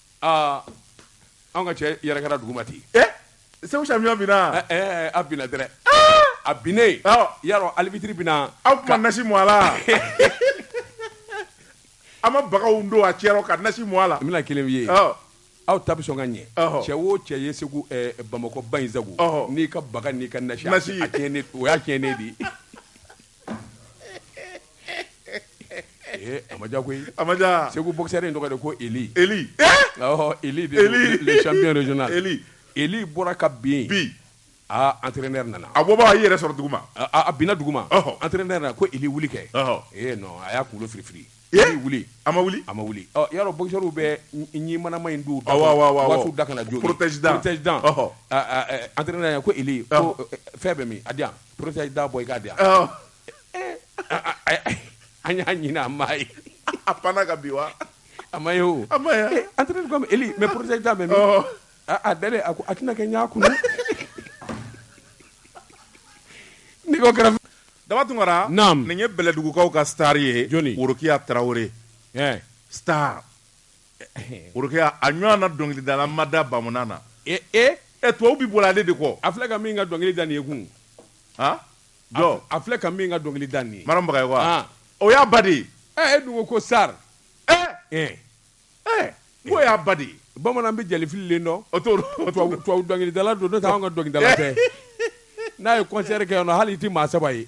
aa anw ka cɛ yɛrɛkɛra duguma ten ee segu champion binna ɛɛ a binna dɛrɛ a binnen awɔ yarɔ alibitiri binna aw tun ma nasi mu a la a ma bagaw don a cɛ rɔ ka nasi mu a la n bɛna kelen f'i ye awɔ aw ta bɛ sɔn ka ɲɛ Ɔhɔ. cɛ o cɛ ye segu ɛɛ bamakɔ ba in sago Ɔhɔ. n'i ka baga n'i ka nasi Nasi. a tiɲɛnen o y'a tiɲɛnen de ye A ma koyi a ma segu bo in tɔgɔ de ko e e bɔra ka bin bi aaa an tɛ ne nana a ko b'a yɛrɛ sɔrɔ dugu ma a bɛna dugu ma an tɛ ne nana ko e wuli kɛ e a y'a kunkolo fili fili wuli a ma wuli a ma wuli yɔrɔ bo bɛ ɲɛ manama in don da ka na jo tɛda an ko e fɛn bɛ min a di yan Pta i da bɔ i ka di an y'a ɲinin a ma ye a pan ka bi wa a ma o an mɛ porote da mɛ a da a ko a tɛna kɛ ɲɛ kun ni kɛra daba tun nin ye bɛlɛdugukaw ka tari ye jɔnni worokiya tarawele ta Worokiya a ɲɔgɔn na dɔnkilidala ma da bamanan na e e e tubabu bɛɛ bɔra ale de kɔ a filɛ ka min ka dɔnkili da nin ye kun han jɔ a filɛ ka min ka dɔnkili da nin ye Maram Bagayogo wa ah. o y'a ba de ye ɛ e dun ko ko star ɛ ɛ ɛ ko y'a ba de ye bamanan bɛ jɛlifililen dɔn o t'o dɔn tubabu tubabu dɔnkilidala don n'o tɛ anw ka dɔnkilidala tɛ n'a ye concert kɛ yan nɔ hali i tɛ maa saba ye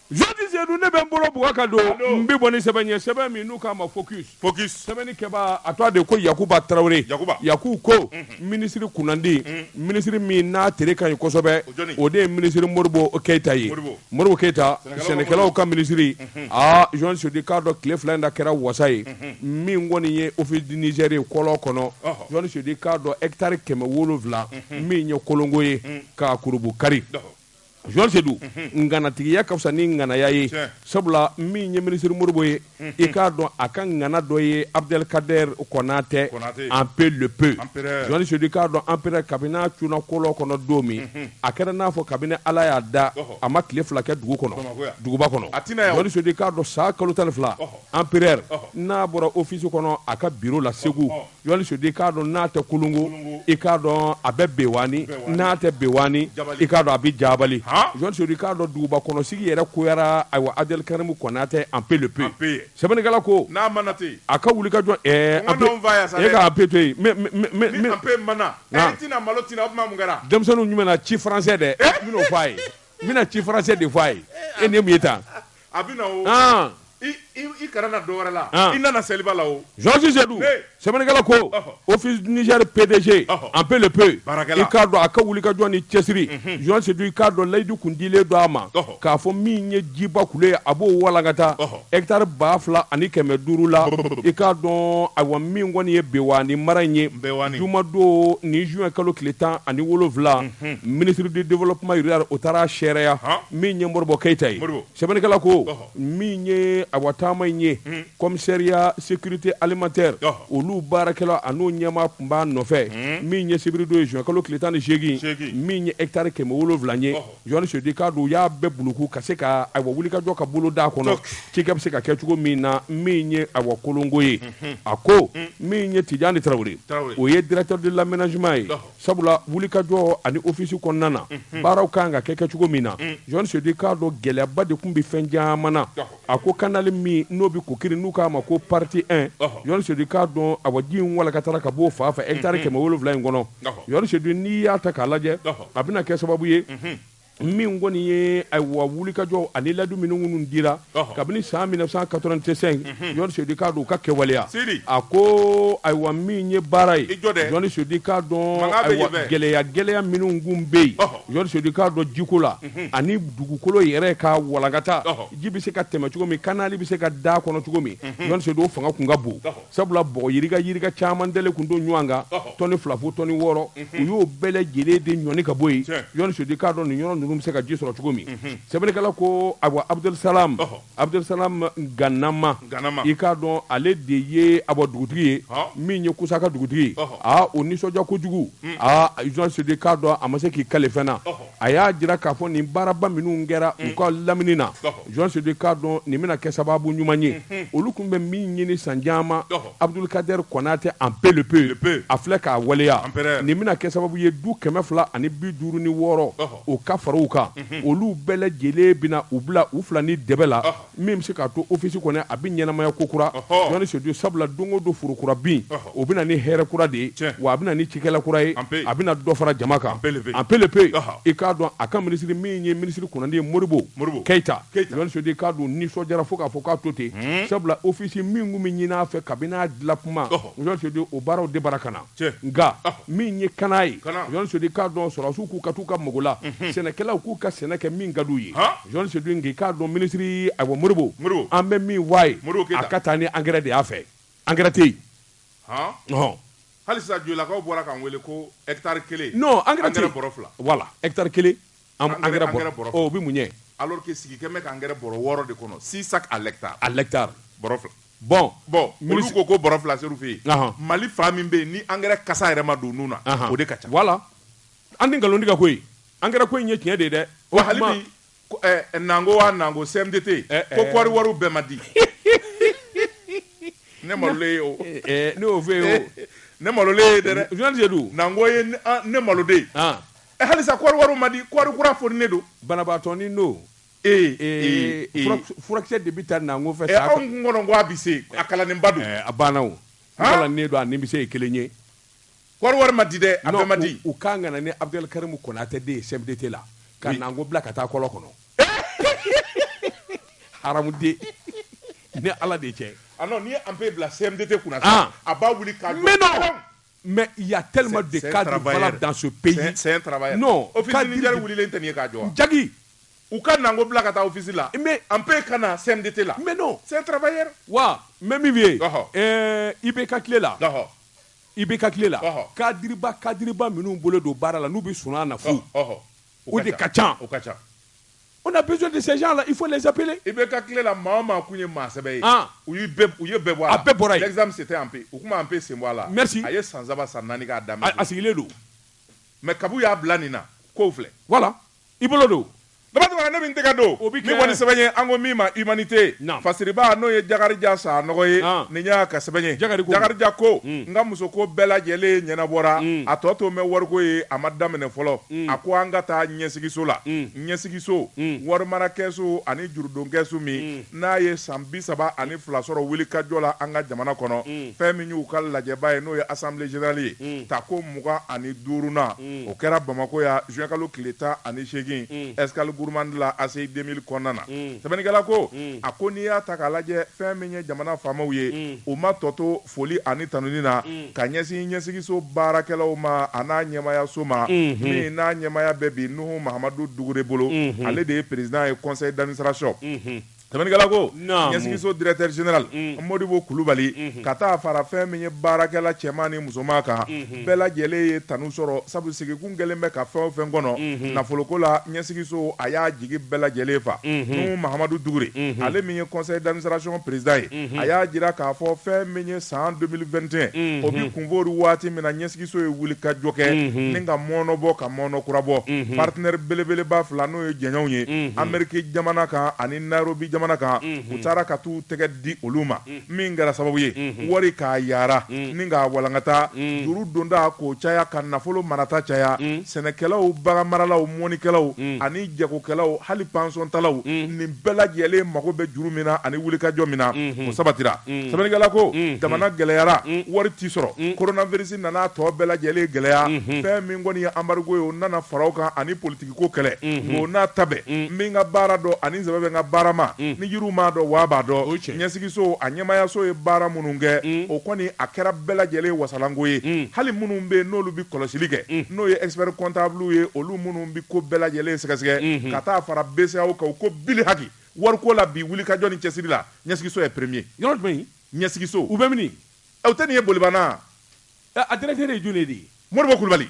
Zodi Seydou ne bɛ n bolo bugɔ ka don n bɛ bɔ ni sɛbɛn ye sɛbɛn min n'u k'a ma focus focus sɛbɛnnikɛbaa a tɔgɔ de ye ko Yakuba Tarawele Yakuba Yaku ko minisiri kunnandi minisiri min n'a tere ka ɲi kosɛbɛ o jɔni o de ye minisiri Modibo Keyita ye Modibo Modibo Keyita sɛnɛkɛlaw ka minisiri aa Zɔn Seydou i k'a dɔn tile fila in na kɛra wasa ye min kɔni ye office du Niger ye kɔlɔ kɔnɔ Zɔn Seydou i k'a dɔn hectare kɛmɛ wolonwula min ye Kolongo ye k'a kurunbonkari. Georges Seydou nganatigiya ka fisa ni nganaya ye Tiɲɛ. sabula min ye minisiri Modibo ye i k'a dɔn a ka ngana dɔ ye Abdelkader Konate Konate. Empé le Pé Empereur. Georges Seydou i k'a dɔn empereur kabini n'a cunna kolɔ kɔnɔ don min a kɛra n'a fɔ kabini Ala y'a da Ɔhɔ. a ma tile fila kɛ dugu kɔnɔ Bamakɔ yan. duguba kɔnɔ A tɛna yan o. Georges Seydou i k'a dɔn san kalo tan ni fila Ɔhɔ. empereur Ɔhɔ. n'a bɔra office kɔnɔ a ka bureau la Segu Ɔhɔ. Jɔli Seydou i k'a dɔn n'a tɛ Kolongo i k'a dɔn a bɛ Bewani n'a tɛ Bewani i k'a dɔn a bɛ jabali jɔnli k'a dɔn duguba kɔnɔsigi yɛrɛ koyara ayiwa Abdel Karim Konate Empé le Pé sɛbɛnnikala ko n'a mana ten a ka wuli ka jɔ e ka pe to yen denmisɛnnin jumɛn ci faransɛ dɛ n bɛn'o fɔ a ye n bɛna ci faransɛ de fɔ a ye e ni ye taa A bɛ na o i kana na don wɛrɛ la i nana seliba la o jɔn sedu sɛbɛnnikɛla ko ofisi nizɛri pedeze anpe le pe i k'a dɔn a ka wulikajɔ ni cɛsiri jɔn sedu i k'a dɔn layidu kun dilen don a ma k'a fɔ min ye jiba ku ye a b'o walankata ɛkitari ba fila ani kɛmɛ duuru la i k'a dɔn ayiwa min kɔni ye bewani mara in ye juma don ni zuwɛn kalo tile tan ani wolonwula ministre du développement rural o taara seereya min ye modibo keyita ye sɛbɛnnikɛla ko min ye awa taama in ye commissariat sécurité alimentaire olu baarakɛla ani o ɲɛmaa tun b'a nɔfɛ min ye sibiridon ye zuwɛnkalo tile tan ni segin min ye ɛkitari kɛmɛ wolonwula ye jɔn sedu i k'a dɔn u y'a bɛɛ buluku ka se ka awa wulikajɔ ka boloda kɔnɔ ci bɛ se ka kɛ cogo min na min ye awa kolongo ye a ko min ye tijani tarawele o ye directeur de l'aménagement ye Sabula wulikajɔ ani ofisi kɔnɔna na baaraw kan ka kɛ kɛ cogo min na jɔn sedu i k'a dɔn gɛlɛyaba de tun bɛ fɛn caman na a ko kanali min n'o bɛ kokiri n'u k'a ma ko partie un jɔn sedu i k'a dɔn awa ji in walankatara ka bɔ o fan fɛ ɛkitari kɛmɛ wolonwula in kɔnɔ jɔn sedu n'i y'a ta k'a lajɛ a bɛna kɛ sababu ye min kɔni ye awa wulikajɔ ani ladu minnu minnu dira kabini san mille neuf cent quatre-vingt-cinq jɔn sedu i k'a dɔn u ka kɛwaleya a ko ayiwa min ye baara ye jɔn sedu i k'a dɔn gɛlɛya gɛlɛya minnu kun bɛ yen jɔn sedu i k'a dɔn jiko la ani dugukolo yɛrɛ ka walankata ji bɛ se ka tɛmɛ cogo min kanali bɛ se ka da kɔnɔ cogo min jɔn sedu o fanga kun ka bon Sabula bɔgɔ yirika yirika caman dalen kun don ɲɔgɔn kan tɔni fila fo tɔni wɔɔrɔ u y'o bɛɛ lajɛlen de ɲɔni ka bɔ yen jɔn sedu i k'a dɔn nin yɔrɔ ninnu bɛ se ka ji sɔrɔ cogo min sɛbɛnnikɛla ko awa abudu sa abudu salamu ganama i k'a dɔn ale de ye awa dugutigi ye min ye kusaka dugutigi aa o nisɔndiya kojugu a jɔn sedu i k'a dɔn a ma se k'i kale fɛn na a y'a jira k'a fɔ nin baaraba minnu kɛra u ka lamini na jɔn sedu i k'a dɔn nin bɛna kɛ sababu ɲuman ye olu tun bɛ min ɲini san caman abudul kadɛri konate anpe le pe a filɛ k'a waleya nin bɛna kɛ sababu ye du kɛmɛ fila ani bi duuru ni wɔɔrɔ o ka fara u kan olu bɛɛ lajɛlen bɛna u bila u fila ni dɛbɛ la min bɛ se k'a to ofisi kɔnɔ a bɛ ɲɛnamaya kokura jɔn sedu sabula don o don foro kura bin o bɛ na ni hɛrɛ kura de ye wa a bɛ na ni cikɛla kura ye a bɛna dɔ fara jama kan anpe le pe i k'a dɔn a ka minisiri min ye minisiri kunnandi ye modibo keyita jɔn sedu i k'a dɔn nisɔndiyara fo k'a fɔ k'a to ten sabula ofisi min kun bɛ ɲinin a fɛ kabini a dilan kuma jɔn sedu o baaraw de bara ka na nka min ye kana ye jɔn sedu i k'a dɔn sɔrɔdasiw k'u ka taa u ka mako la sɛnɛkɛlaw k'u ka sɛnɛ kɛ min ka d'u ye jɔn sedu n k'i k'a dɔn minisiri ayiwa modibo an bɛ min fɔ a ye a ka taa ni angɛrɛ de y'a fɛ angɛrɛ tɛ yen halisa jolakaw bɔra k'an weele ko ɛkitari kelen non angɛrɛ bɔrɛ fila voilà ɛkitari kelen an engrais bɔrɛ bɔrɛ o bɛ mun ɲɛ alors que sigi kɛlen bɛ ka engrais bɔrɛ wɔɔrɔ de kɔnɔ six sacs à l'hectare à l'hectare bɔrɛ fila bon bon olu ko ko bɔrɛ fila ser'u fɛ yen Mali fan min bɛ yen ni engrais kasa yɛrɛ ma don nun na o de ka ca voilà an tɛ nkalon tigɛ koyi engrais ko in ye tiɲɛ de ye dɛ wa hali bi ɛɛ Nango wa Nango CMDT ko kɔɔri wariw bɛɛ ma di ne malolen ye o ne y'o f'e ye o ne malolen ye dɛ journaliste Sedu Nango ye ne malo dɛ. Ɛ halisa kɔɔri wariw ma di kɔɔri kura foninen don banabaatɔ ni n'o ee ee ee furakisɛ furakisɛ de bɛ ta Nango fɛ sa ɛ anw kun kɔnɔ ko a bɛ se a kalannenba don ɛɛ a banna o han kalannen don a nimisa ye kelen ye kɔɔri wari ma di dɛ a bɛɛ ma di u kan ka na ni Abudɛli Karimu Konatɛ de ye CMDT la ka Nango bila ka taa kɔlɔ kɔnɔ haramuden ni Ala de cɛ a non n'i ye Anpe bila CMDT kunna sa a b'a wuli k'a jɔ pewu. Mɛ ya tɛ danso pe ja u ka nako bila ka taafisi la an bɛɛ ka na sɛte la wa mɛ min ye i bɛ ka tile la i bɛ ka tile la kadi kadiba minnu bolo don baara la n'u bɛ sun na fo o de ka ca o ka ca on a besoin de ces gens là il faut les appeler IBK tile la maa o maa kun ye maa sɛbɛ ye ah. u ye bɛɛ u ye bɛɛ bɔ a la a bɛɛ bɔra yen l'exception c'était Anpe u kun ma Anpe sen bɔ a la merci a ye san saba san naani k'a daminɛ a sigilen don mais kab'u y'a bila nin na kow filɛ voilà i bolo don dabatɛmɛna ne min tɛgɛ don min kɔni sɛbɛn ye an ko min ma humanité fasiriba n'o ye Jakarija Sanɔgɔ ye ah. nin y'a ka sɛbɛn ye Jakarija ko hmm. n ka musoko bɛɛ lajɛlen ɲɛnabɔra hmm. a tɔ tolen bɛ wariko ye a ma daminɛ fɔlɔ a ko an ka taa ɲɛsigiso la ɲɛsigiso warimarakɛsu ani jurudonkɛsu min n'a ye san bi saba ani fila sɔrɔ wulikajɔ la an ka jamana kɔnɔ fɛn min y'u ka lajɛba ye n'o ye assemblée générale ye tako mugan ani duurunan o kɛra bamakɔ yan juin kalo tile tan ani segingin Escale Gourmande la ACI deux mille kɔnɔna na sɛbɛnnikɛla ko a ko n'i y'a ta k'a lajɛ fɛn min ye jamana faamaw ye u ma tɔ to foli ani tanuni na ka ɲɛsin ɲɛsigiso baarakɛlaw ma a n'a ɲɛmayaso ma min n'a ɲɛmaya bɛ bi nuhu mahamadu dugure bolo ale de ye président ye conseil d'administration sɛbɛnnikɛla ko ɲɛsigiso directeur général mɔdibo kulubali ka taa fara fɛn min ye baarakɛla cɛman ni musoman kan bɛɛ lajɛlen ye tanu sɔrɔ sabu sigi kun kɛlen bɛ ka fɛn o fɛn kɔnɔ nafoloko la ɲɛsigiso a y'a jigi bɛɛ lajɛlen fa nuhu mahamadu dugure ale min ye conseil d'administration président ye a y'a jira k'a fɔ fɛn min ye san deux mille vingt et un o bɛ kunfoori waati min na ɲɛsigiso ye wulikajɔ kɛ ni ka mɔnɔ bɔ ka mɔnɔ kura bɔ partenaire belebeleba fila n'o ye jɛɲɔgɔnw ye ameriki jamana kan ani nairobi jamana kan u taara ka taa u tɛgɛ di olu ma min kɛra sababu ye wari k'a yara ni k'a walankata juru donda k'o caya ka nafolo marata caya sɛnɛkɛlaw baganmaralaw mɔnikɛlaw ani jagokɛlaw hali pansɔntalaw nin bɛɛ lajɛlen mago bɛ juru min na ani wulikajɔ min na o sabatira sɛbɛnnikɛla ko jamana gɛlɛyara wari ti sɔrɔ koronavirisi nana tɔ bɛɛ lajɛlen gɛlɛya fɛn min kɔni ye anbarigo ye o nana fara o kan ani politigi ko kɛlɛ o n'a ta bɛɛ n bɛ n ka baara dɔn ani sɛbɛ bɛ n ka baara ma ni yiriw m'a dɔn waa b'a dɔn ɲɛsigiso a ɲɛmayaso ye baara minnu kɛ o kɔni a kɛra bɛɛ lajɛlen wasalanko ye hali minnu bɛ yen n'olu bɛ kɔlɔsili kɛ n'o ye expert comptable ye olu minnu bɛ ko bɛɛ lajɛlen sɛgɛsɛgɛ ka taa fara BCEAO kan ko bilihaki wariko la bi wulikajɔ ni cɛsiri la ɲɛsigiso ye premier yɔrɔ jumɛn ɲɛsigiso u bɛ min aw tɛ nin ye Bolibana a directeur ye jɔni de ye Modibo Kulubali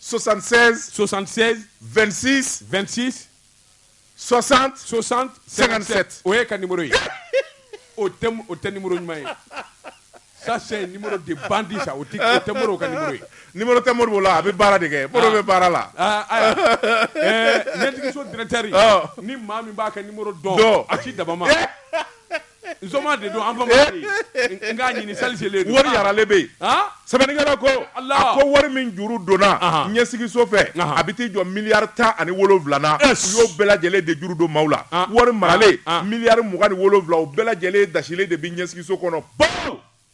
76762626 67 o ye ka ni ye o tɛ ni ɲuman ye sa ni de bandi sa o tɛ ka ni tɛ mori la a bɛ baara de kɛ mori bɛ baara la ntigiso dtɛri ni maa min b'a kɛ dɔn a ci daba Nsoma de don an b'a fɛ k'a ɲini seli selen wari yaralen bɛ yen sɛbɛnnikɛla ko a ko wari min juru donna ɲɛsigiso fɛ a bɛ t'i jɔ miliyari tan ani wolonwula la u y'o bɛɛ lajɛlen de juru don maaw la wari maralen miliyari mugan ni wolonwula o bɛɛ lajɛlen dasilen de bɛ ɲɛsigiso kɔnɔ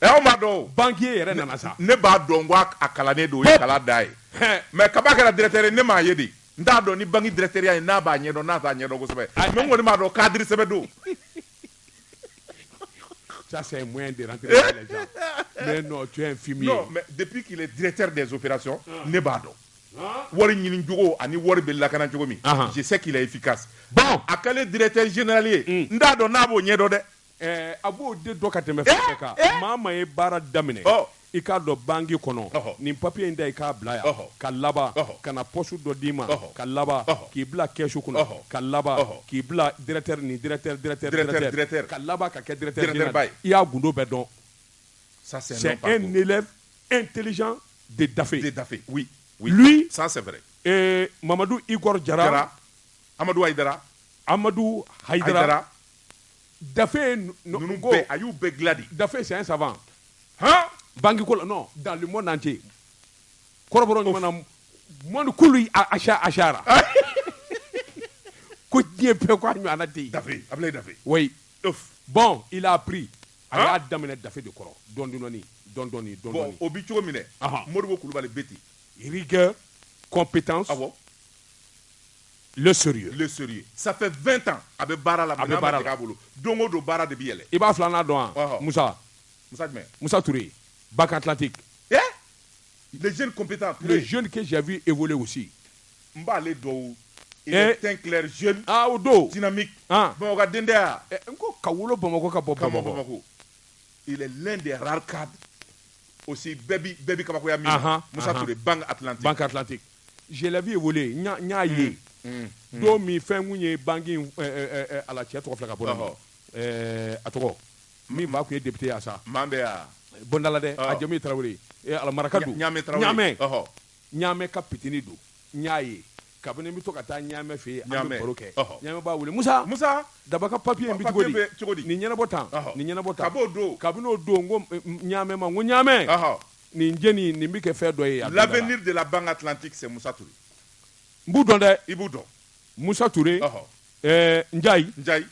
Ɛ aw m'a dɔn o banquier yɛrɛ nana sa ne b'a dɔn ko a kalannen don o ye kala da ye mais kaba a kɛra directeur ye ne m'a ye dɛ n t'a dɔn ni banque directeur ya in n'a b'a ɲɛdɔn n'a t'a ɲɛdɔn kosɛbɛ mais n kɔni b'a dɔn cadre sɛbɛ don ça c'est un moyen de rentrer dans les gens mais non tu es un fumier non mais depuis qu'il est directeur des opérations ah. ne b'a dɔn ah. wari ɲini cogo ani wari bɛ lakana cogo min ah. je sais qu'il est efficace bon a kɛlen directeur général ye hmm. n t'a dɔn n'a b'o ɲɛdɔn dɛ A b'o de dɔn ka tɛmɛ fɛn bɛɛ kan maa min ye baara daminɛ i ka don banque kɔnɔ nin papiye in ta i k'a bila yan ka laban ka na poste dɔ d'i ma ka laban k'i bila kɛsu kɔnɔ ka laban k'i bila directeur ni directeur ka laban ka kɛ directeurba ye i y'a gundo bɛɛ dɔn c'est un élève intelligent de Dafe de Dafe lui ça Mamadu Igor Jara Amadu a Amadu Hayidara Dafe ninnu bɛɛ a y'u bɛɛ dilan de Dafe c'est un savant han bankiko la non dans le monde entier kɔrɔbɔrɔ ɲuman na monde kulu asara ko diɲɛ bɛɛ ko a ɲɔgɔnna tɛ yen Dafe Abulayi Dafe oui bon il a appris a y'a daminɛ Dafe de kɔrɔ dɔɔni dɔɔni dɔɔni dɔɔni dɔɔni o bi cogo min dɛ Modibo Kulubali bɛ ten rigueur compétence awɔ le sérieux le sérieux ça fait 20 ans a bɛ baara la a bɛ baara la bolo don o don baara de bɛ yɛlɛ i b'a filanan dɔn wa ah, ah. Musa Musa jumɛn Musa Toure banque atlantique eh le jeune compétent le jeune que j'ai vu évoluer aussi n b'ale dɔn il eh. est teint clair jeune ah o don dynamique ah bon ka dendaya eh, n ko ka wolo Bamakɔ ka bɔ Bamakɔ il est l'un des rares cadres aussi bɛɛ bi bɛɛ bi kabakoya min na Musa Toure banque atlantique banque atlantique Je l'ai vu évoluer n y'a ye don min fɛn tun ye banki a la cɛ tɔgɔ ka bɔ a tɔgɔ min fa tun ye député sa bɔndala dɛ a jɔn Tarawele ye alaka ɲamɛ ɲamɛ ɲamɛ ka pitini don n y'a ye kabini n bɛ to ka taa ɲamɛ fɛ yen ɲamɛ kɛ ɲamɛ b'a wele Musa daba ka papiye bɛ cogo di nin ɲɛnabɔ tan nin ɲɛnabɔ don kabini o don n ko ɲamɛ ma ko ɲamɛ Nin jeune in, nin bɛ kɛ fɛn dɔ ye yan don dɔ la. L'avenir de la banque atlantique c'est Moussa Toure. N b'u dɔn dɛ. I b'u dɔn. Moussa Toure, ɔhɔ, ɛɛ Ndiaye. Ndiaye.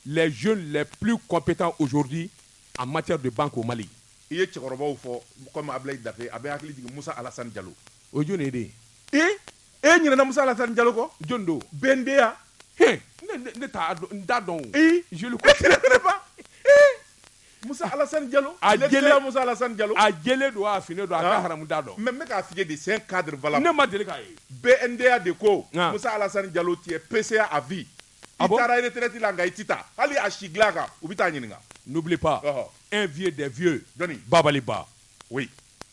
Les jeunes les plus compétents aujourd'hui en matière de banque au Mali. I ye cɛkɔrɔbaw fɔ comme Ablaye Daffé, a bɛ n hakili jigin Moussa Alassane Diallo. O ye jɔni ye dɛ? Ee, e ɲinɛna Moussa Alassane Diallo kɔ? Jɔni don? BNDA. He, ne ne ne t'a dɔn, n t'a dɔn o. Ayi, je le connais pas. Musa Alasani Jalo, a jɛlen, lecturer Musa Alasani Jalo, a jɛlen don wa a finnen don, a ka haramu n t'a dɔn, mais n bɛ k'a f'i ye de c'est un cadre valable, ne ma deli k'a ye, BNDA de ko Musa Alasani Jalo tu es PCA à vie, i taara retraite la nka i tɛ taa, hali a sigilan kan u bɛ t'a ɲininka, n'oublie pas, ɔhɔ, un vieux des vieux, jɔni, Babaly Ba, oui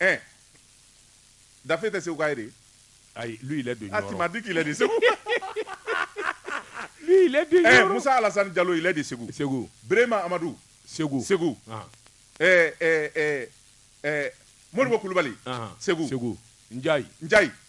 ɛ dafe tɛ seguka ye de ayi lui il est de ah tu m'as dit qu'il est de segu lui il est de eh, Moussa Alassane Diallo il est de segu segu Brema Amadou segu segu ah. eh, eh, eh, eh, Modibo Kulubali ah. segu segu Ndiaye Ndiaye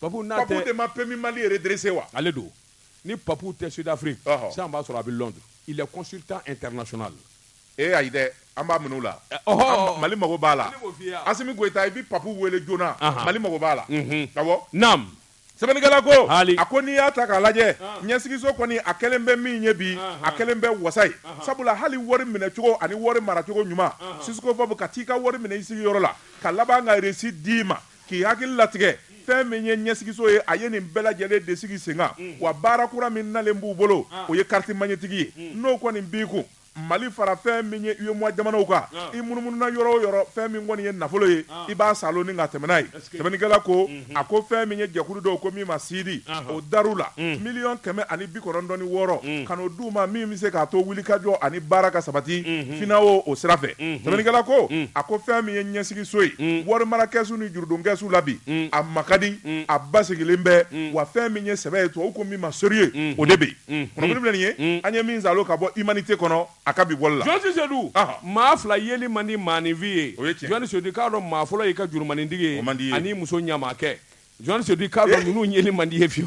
Papu n'a tɛ Papu de ma PMU Mali redresser wa? Ale don. Ni Papu tɛ Sud Afrique, ɔhɔ, sisan i b'a sɔrɔ a bɛ Londres. Il est consultant international. Ee ayi dɛ, an b'a minɛ u la. Ɔhɔɔ! Mali mago b'a la. Ne b'o f'i ye a. Assimi Goita, i bɛ Papu wele joona. Anhan! Mali mago b'a la. Unhun! Awɔ. Naamu! Sɛbɛnnikɛla ko, Haali! A ko n'i y'a ta k'a lajɛ, an, ɲɛsigiso kɔni a kɛlen bɛ min ye bi, anhan, a kɛlen bɛ wasa ye. Anhan! Sabula hali wari minɛcogo ani wari maracogo ɲuman, anhan, jusqu'à fo u bɛ ka t'i ka wari minɛ i sigiyɔrɔ la, ka laban ka reçu d'i ma, K'i hakili latigɛ fɛn min ye ɲɛsigiso ye, a ye nin bɛɛ lajɛlen de sigi senkan, wa baara kura min nalen b'u bolo, o ye carte magnétique ye, n'o kɔni b'i kun, Mali fara fɛn min ye UEMOA jamanaw kan, i munumununa yɔrɔ o yɔrɔ, fɛn min kɔni ye nafolo ye, i b'a saalo ni ka tɛmɛn n'a ye. Sɛbɛnnikɛla ko, a ko fɛn min ye jɛkulu dɔ ko min ma SIDI, o dar'u la miliyɔn kɛmɛ ani bi kɔnɔntɔn wɔɔrɔ ka n'o d'u ma min bɛ se k'a to wulikajɔ ani baara ka sabati FINAO o sira fɛ sɛbɛnnikɛla ko a ko fɛn min ye ɲɛsigiso ye warimarakɛsu ni jurudonkɛsu la bi a ma ka di a basigilen bɛ wa fɛn min ye sɛbɛ ye tubabu ko min ma sérieux o de bɛ yen ye an ye min saalo ka bɔ Humanité kɔnɔ a ka bi bɔli la Sedu maa fila yeli man di maaninfin ye o jɔn Sedu k'a dɔn maa fɔlɔ y'i ka jurumanintigi ye man di ani muso ɲamakɛ jɔn Sedu k'a dɔn ninnu yeli man di ye fiye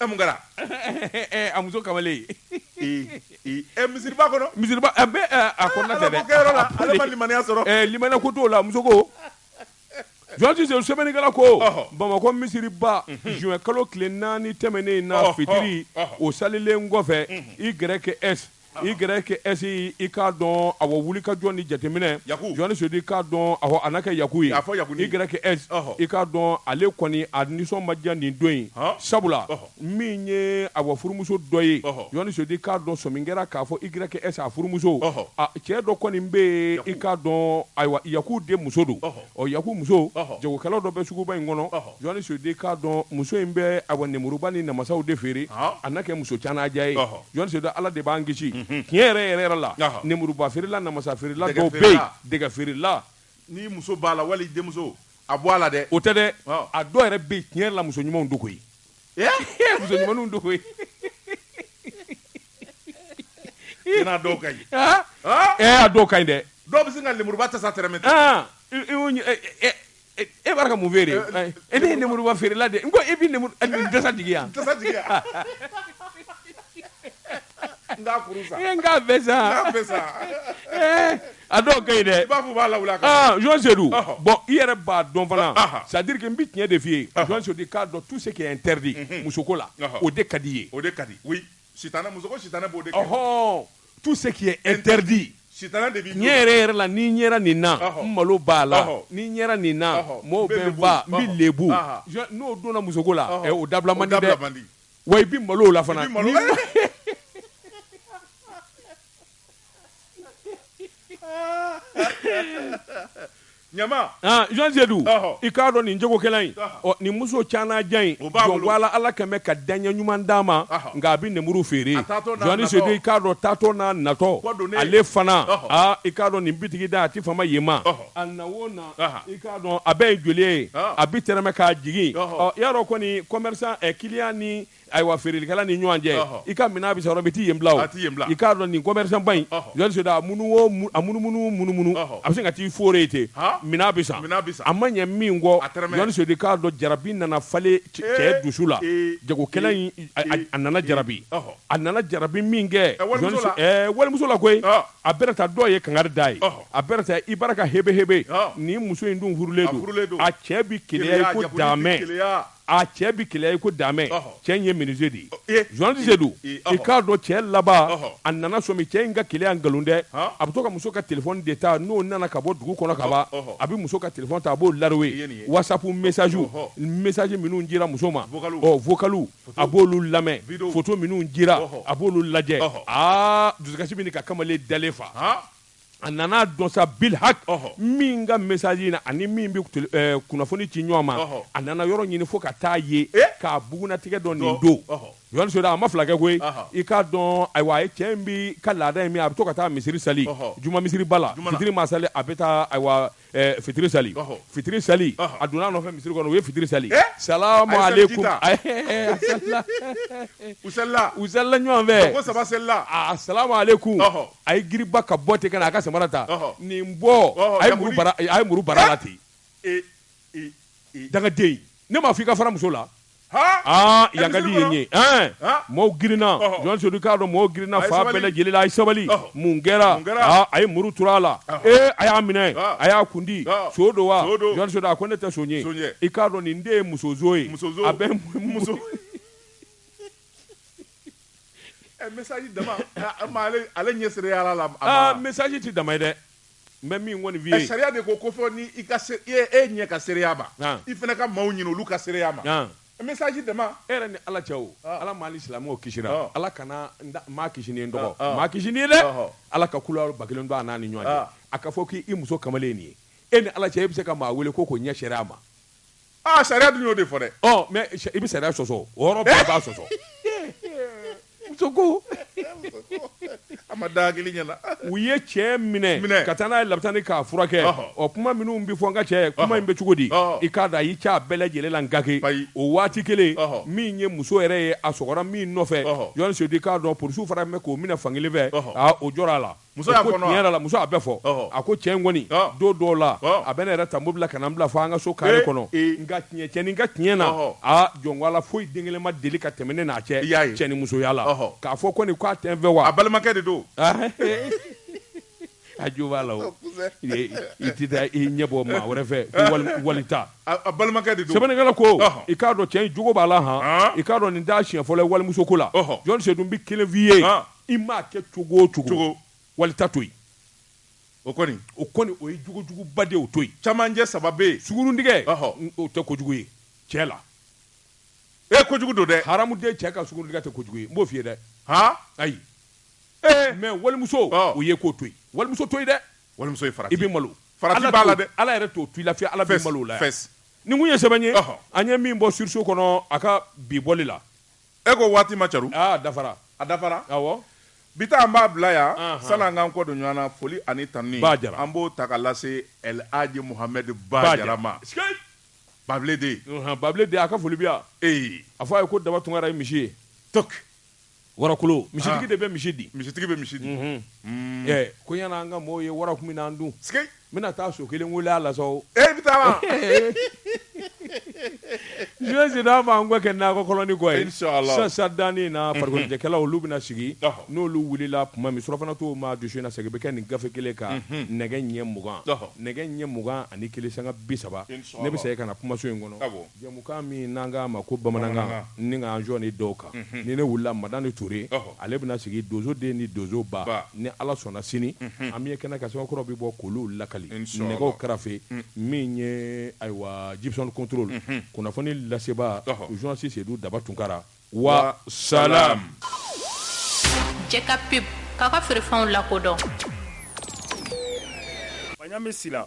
E mun kɛra a muso kamalen misiriba kɔnɔ misiriba ale ma limaniya sɔrɔ limaniya ko t'o la muso ko jɔnni sedu sɛbɛnnikɛla ko bamakɔ misiriba juin kalo tile naani tɛmɛnen na fitiri o salilen kɔfɛ YS YS i k'a dɔn a wulikajɔ ni jateminɛ jɔnni sedu i k'a dɔn a n'a kɛ yaku ye YS i k'a dɔn ale kɔni a nisɔn ma diya nin don in sabula min ye a wa furumuso dɔ ye jɔnni sedu i k'a dɔn sɔmi kɛra k'a fɔ YS a furumuso cɛ dɔ kɔni bɛ yen i k'a dɔn ayiwa yaku de muso don ɔ yaku muso jagokɛla dɔ bɛ suguba in kɔnɔ Jɔnni sedu k'a dɔn muso in bɛ a wa nemuruba ni namasaw de feere a n'a kɛ muso caananjan ye jɔnni sedu ala de b'an kisi tiɲɛ yɛrɛ yɛrɛ yɛrɛ la nemuruba feerela namasa feerela dɔw bɛ yen dɛgɛ feerela ni muso b'a la wali denmuso a bɔ a la dɛ o tɛ dɛ a dɔw yɛrɛ bɛ yen tiɲɛ yɛrɛ la muso ɲumanw dogo ye muso ɲuman dogo ye i n'a dɔw ka ɲi ɛ' dɔw ka ɲi dɛ dɔw bɛ se ka nemuruba tasa tɛrɛmɛ E b'a ka mun feere e ne ye nemuruba feerela de ko e bɛ tasa jigin yan a dɔw ka ɲi dɛ b'a fɔ b'a la jɔnni sedu bon i yɛrɛ b'a dɔn fana c'est à dire que n bɛ tiɲɛ de f'i ye jɔnni sedu k'a dɔn tout ce qui est interdit musoko la o de ka di ye o ka di Sitanɛ muso ko sitanɛ b'o de kɛ, ɔhɔɔ, tout ce qui est interdit sitanɛ de b'i tulo la, tiɲɛ yɛrɛ yɛrɛ la ni n yera nin na, ɔhɔ, n malo b'a la, ɔhɔ, ni n yera nin na, ɔhɔ, mɔɔw bɛ n faa, n bɛ lebu, ɔhɔ, n'o donna musoko la, ɔhɔ, ɛ o dabila man di dɛ, o dabila man di, wa i bɛ malo o la fana, i bɛ malo Ɲama han Jɔnni Sedu ɔhɔ i k'a dɔn nin jagokɛla in ɔhɔ ɔ nin muso caananjan in o b'a bolo jɔn wala Ala kɛn bɛ ka daɲɛ ɲuman d'a ma ɔhɔ nka a bɛ nenburu feere a taatɔ n'a Jɔnni Sedu natɔ i k'a dɔn taatɔ n'a natɔ kɔ donnen ale fana ɔhɔ aa i k'a dɔn nin bitigi da a tɛ fama yen ma ɔhɔ a na o na aha i k'a dɔn a bɛɛ ye joli ye ɔɔ a bɛ tɛrɛmɛ k'a jigin ɔhɔ ɔ i y'a dɔn kɔni commerçant ɛ client ni ayiwa feerelikɛla ni ɲɔgɔn cɛ Ɔhɔ. i ka minɛn bɛ sɔrɔ bi t'i yen bila o A t'i yen bila. i k'a dɔn nin commerçant ba in Ɔhɔ. Jɔn Seydou a munu o mu- a munumunu munumunu Ɔhɔ. a bɛ sin ka t'i foore yen ten Han. minɛn bɛ san Minɛn bɛ san. a ma ɲɛ min kɔ A tɛrɛmɛ. Jɔn Seydou i k'a dɔn jarabi nana falen cɛ Ee, cɛ dusu la ee, jagokɛla in ee, a- a- ee, a nana jarabi Ɔhɔ. a nana jarabi min kɛ Ɛ, walimuso Jɔn Se- la. ɛɛ, walimuso la koyi Ɔ. a bɛna taa dɔw ye kangari d'a ye Ɔhɔ. a bɛna taa i bara ka hebehebe Ɔ. nin muso in dun furulen A furulen don. don a cɛ bi keleya i ko Jɛkulu bi daamɛ keleya. a cɛ bɛ keleya i ko daamɛ cɛ in ye menuisier de ye Jɔn Seydou i k'a dɔn cɛ laban a nana sɔmi cɛ in ka keleya nkalon dɛ a bɛ to ka muso ka téléphone de ta n'o nana ka bɔ dugu kɔnɔ ka ban a bɛ muso ka téléphone ta a b'o laro ye wasapu misaz misaji minnu cira muso ma ɔ vocalw a b'olu lamɛn photo minnu cira a b'olu lajɛ aa dusukasi bɛ ɲini ka kamalen dalen fa a nana dɔn sa bilhak min ka misaji na ani min bɛ eh, kunnafoni ci ɲɔgɔn ma a nana yɔrɔ ɲini fo ka taa ye eh? k'a bugunatigɛ dɔn nin don Jɔn Seydou a ma fila kɛ koyi i k'a dɔn ayiwa a ye cɛ in bi ka laada in min a bɛ to ka taa misiri sali juma misiriba la fitiri ma sali a bɛ taa ayiwa Eh, fitiri sali fitiri sali a donna a nɔfɛ misiri kɔnɔ u ye fitiri sali salamu aleykum u salila u salila ɲɔgɔn fɛ ko saba salila a salamu aleykum a ye giriba ka bɔ ten ka na a ka samara ta nin bɔ a ye muru bara a ye muru bar'a la ten eh, eh, dangaden ne m'a fɔ i ka fara muso la Yan kadi ye ye maaw girinna Jɔn Seydou i k'a dɔn maaw girinna fan bɛɛ lajɛlen la a ye sabali mun kɛra a ye muru turu a la ee a y'a minɛ a y'a kundi son don wa a ko ne tɛ son ye i k'a dɔn nin de ye musoson ye a bɛ muso ale ɲɛ ala la misaji tɛ dama ye dɛ N bɛ min kɔni f'i ye. Sariya de ko ko fo ni i ka se e e ɲɛ ka seereya ma. An. I fana ka maaw ɲini olu ka seereya ma. An. Message dama. E yɛrɛ ni Ala cɛ o. Ɔɔ. Ala m'an ni silamɛw kisira. Ɔɔ. Ala kana n da n m'a kisi n'i ye n dɔgɔ. Ɔɔ. N m'a kisi n'i ye dɛ! Ɔhɔ. Ala ka kulaw ba kelen don a n'a ni ɲɔgɔn cɛ. Aa. A ka fɔ k'i i muso kamalen ye nin ye, e ni Ala cɛ e bɛ se ka maa wele ko k'o ɲɛ seereya ma? Aa sariya dun y'o de fɔ dɛ ɔ mais i bɛ sariya sɔsɔ o yɔrɔ bɛɛ b'a sɔsɔ muso ko a ma da hakili ɲɛna u ye cɛ minɛ Minɛ. ka taa n'a ye labitani k'a furakɛ Ɔhɔ. ɔ kuma minnu bɛ fɔ n ka cɛ kuma in bɛ cogo di Ɔhɔ. i k'a da a y'i cɛ a bɛɛ lajɛlen la n ka ke Ayi. o waati kelen Ɔhɔ. min ye muso yɛrɛ ye a sɔgɔra min nɔfɛ Ɔhɔ. Jɔn Seydou k'a dɔn polisiw fana bɛ k'o minɛ fankelen fɛ Ɔhɔ. aa o jɔra a la Muso y'a fɔ tiɲɛ yɛrɛ la muso a bɛ fɔ a ko cɛ kɔni don dɔw la a bɛ ne yɛrɛ ta mobili la ka na n bila fo an ka so kare kɔnɔ nka tiɲɛɲɛnani ka tiɲɛ na aa jɔnla foyi den kelen ma deli ka tɛmɛ ne n'a cɛ i y'a cɛ ni musoya la k'a fɔ ko nin k'a tɛ n fɛ wa a balimakɛ de don a jo b'a la i tɛ taa i ɲɛ bɔ maa wɛrɛ fɛ wali ta a balimakɛ de sɛbɛnnikɛla ko i k'a dɔn cɛ in jogo b'a la i k'a dɔn nin t'a siɲɛ fɔlɔ ye walimuso ko la journaliste Sedu bɛ kelen f'i ye i m'a kɛ cogo o cogo, wali ta to yen. O kɔni. O kɔni o ye jogojuguba de ye, o to yen. Camancɛ saba bɛ yen. Sunguruntigɛ. Ɔhɔ. O tɛ kojugu ye cɛ la. Ee kojugu don dɛ! Haramuden cɛ ka sunguruntigɛ tɛ kojugu ye, n b'o f'i ye dɛ. Han! Ayi. Ee! Mais walimuso. Ɔɔ. O ye k'o to yen. Walimuso to yen dɛ! Walimuso ye farati. I bɛ malo. Farati b'a la dɛ! Ala yɛrɛ t'o to i la fiyewu, Ala b'i malo o la yan. Fes, fes. Nin tun ye sɛbɛn ye. Ɔhɔ. An ye min bɔ Surseau kɔnɔ a ka bi bɔli la. e ko waati ma caru aa dafara a dafara awɔ bi ta an b'a bila yan Anhan. sani an k'an kɔ don ɲɔgɔn na foli ani tanuni Ba Jara. an b'o ta ka lase El Hadji Mohamed Ba Jara ma Sikei! Babile den Unhan, babile den a ka foli bɛ yan ee a fɔ a ye ko daba tunkara ye misi ye tok warakolo misitigi Ah. de bɛ misi di misitigi bɛ misi di Unhun. Ɛ, ko yann'an ka mɔɔw ye wara kun bɛ n'an dun sikei N bɛna taa so kelen wele a la sa o. E bɛ taama. Journaliste Sedu an b'an kɔ kɛ nakɔ kɔlɔni kɔ ye. Inchallah. Sisan sisan daani in na farikoloɲɛnajɛkɛlaw olu bɛna sigi. Ɔhɔ. N'olu wulila tuma min surafana to ma dusu in na segin bɛ kɛ nin gafe kelen kan. Unhun. Nɛgɛ ɲɛ mugan. Ɔhɔ. Nɛgɛ ɲɛ mugan ani kelen sanga bi saba. Inchallah. Ne bɛ segin ka na kumaso in kɔnɔ. Awɔ. Jɛmukan min n'an k'a ma ko bamanankan, n ni ka n jɔ ni dɔw kan, ni ne wulila Madani Ture, ale bɛna sigi donso den ni donso ba, ni Ala sɔnna sini, an bɛ ye kɛnɛ kan sɛbɛn kuraw bɛ bɔ k'olu lakali nɛgɛw karafe min ye ayiwa Jipson Control, kunnafoni lasebaa journaliste Sedu Daba Tunkara, wa salaam. Jɛ ka pub k'aw ka feerefɛnw lakodɔn. Maɲanbe Sila.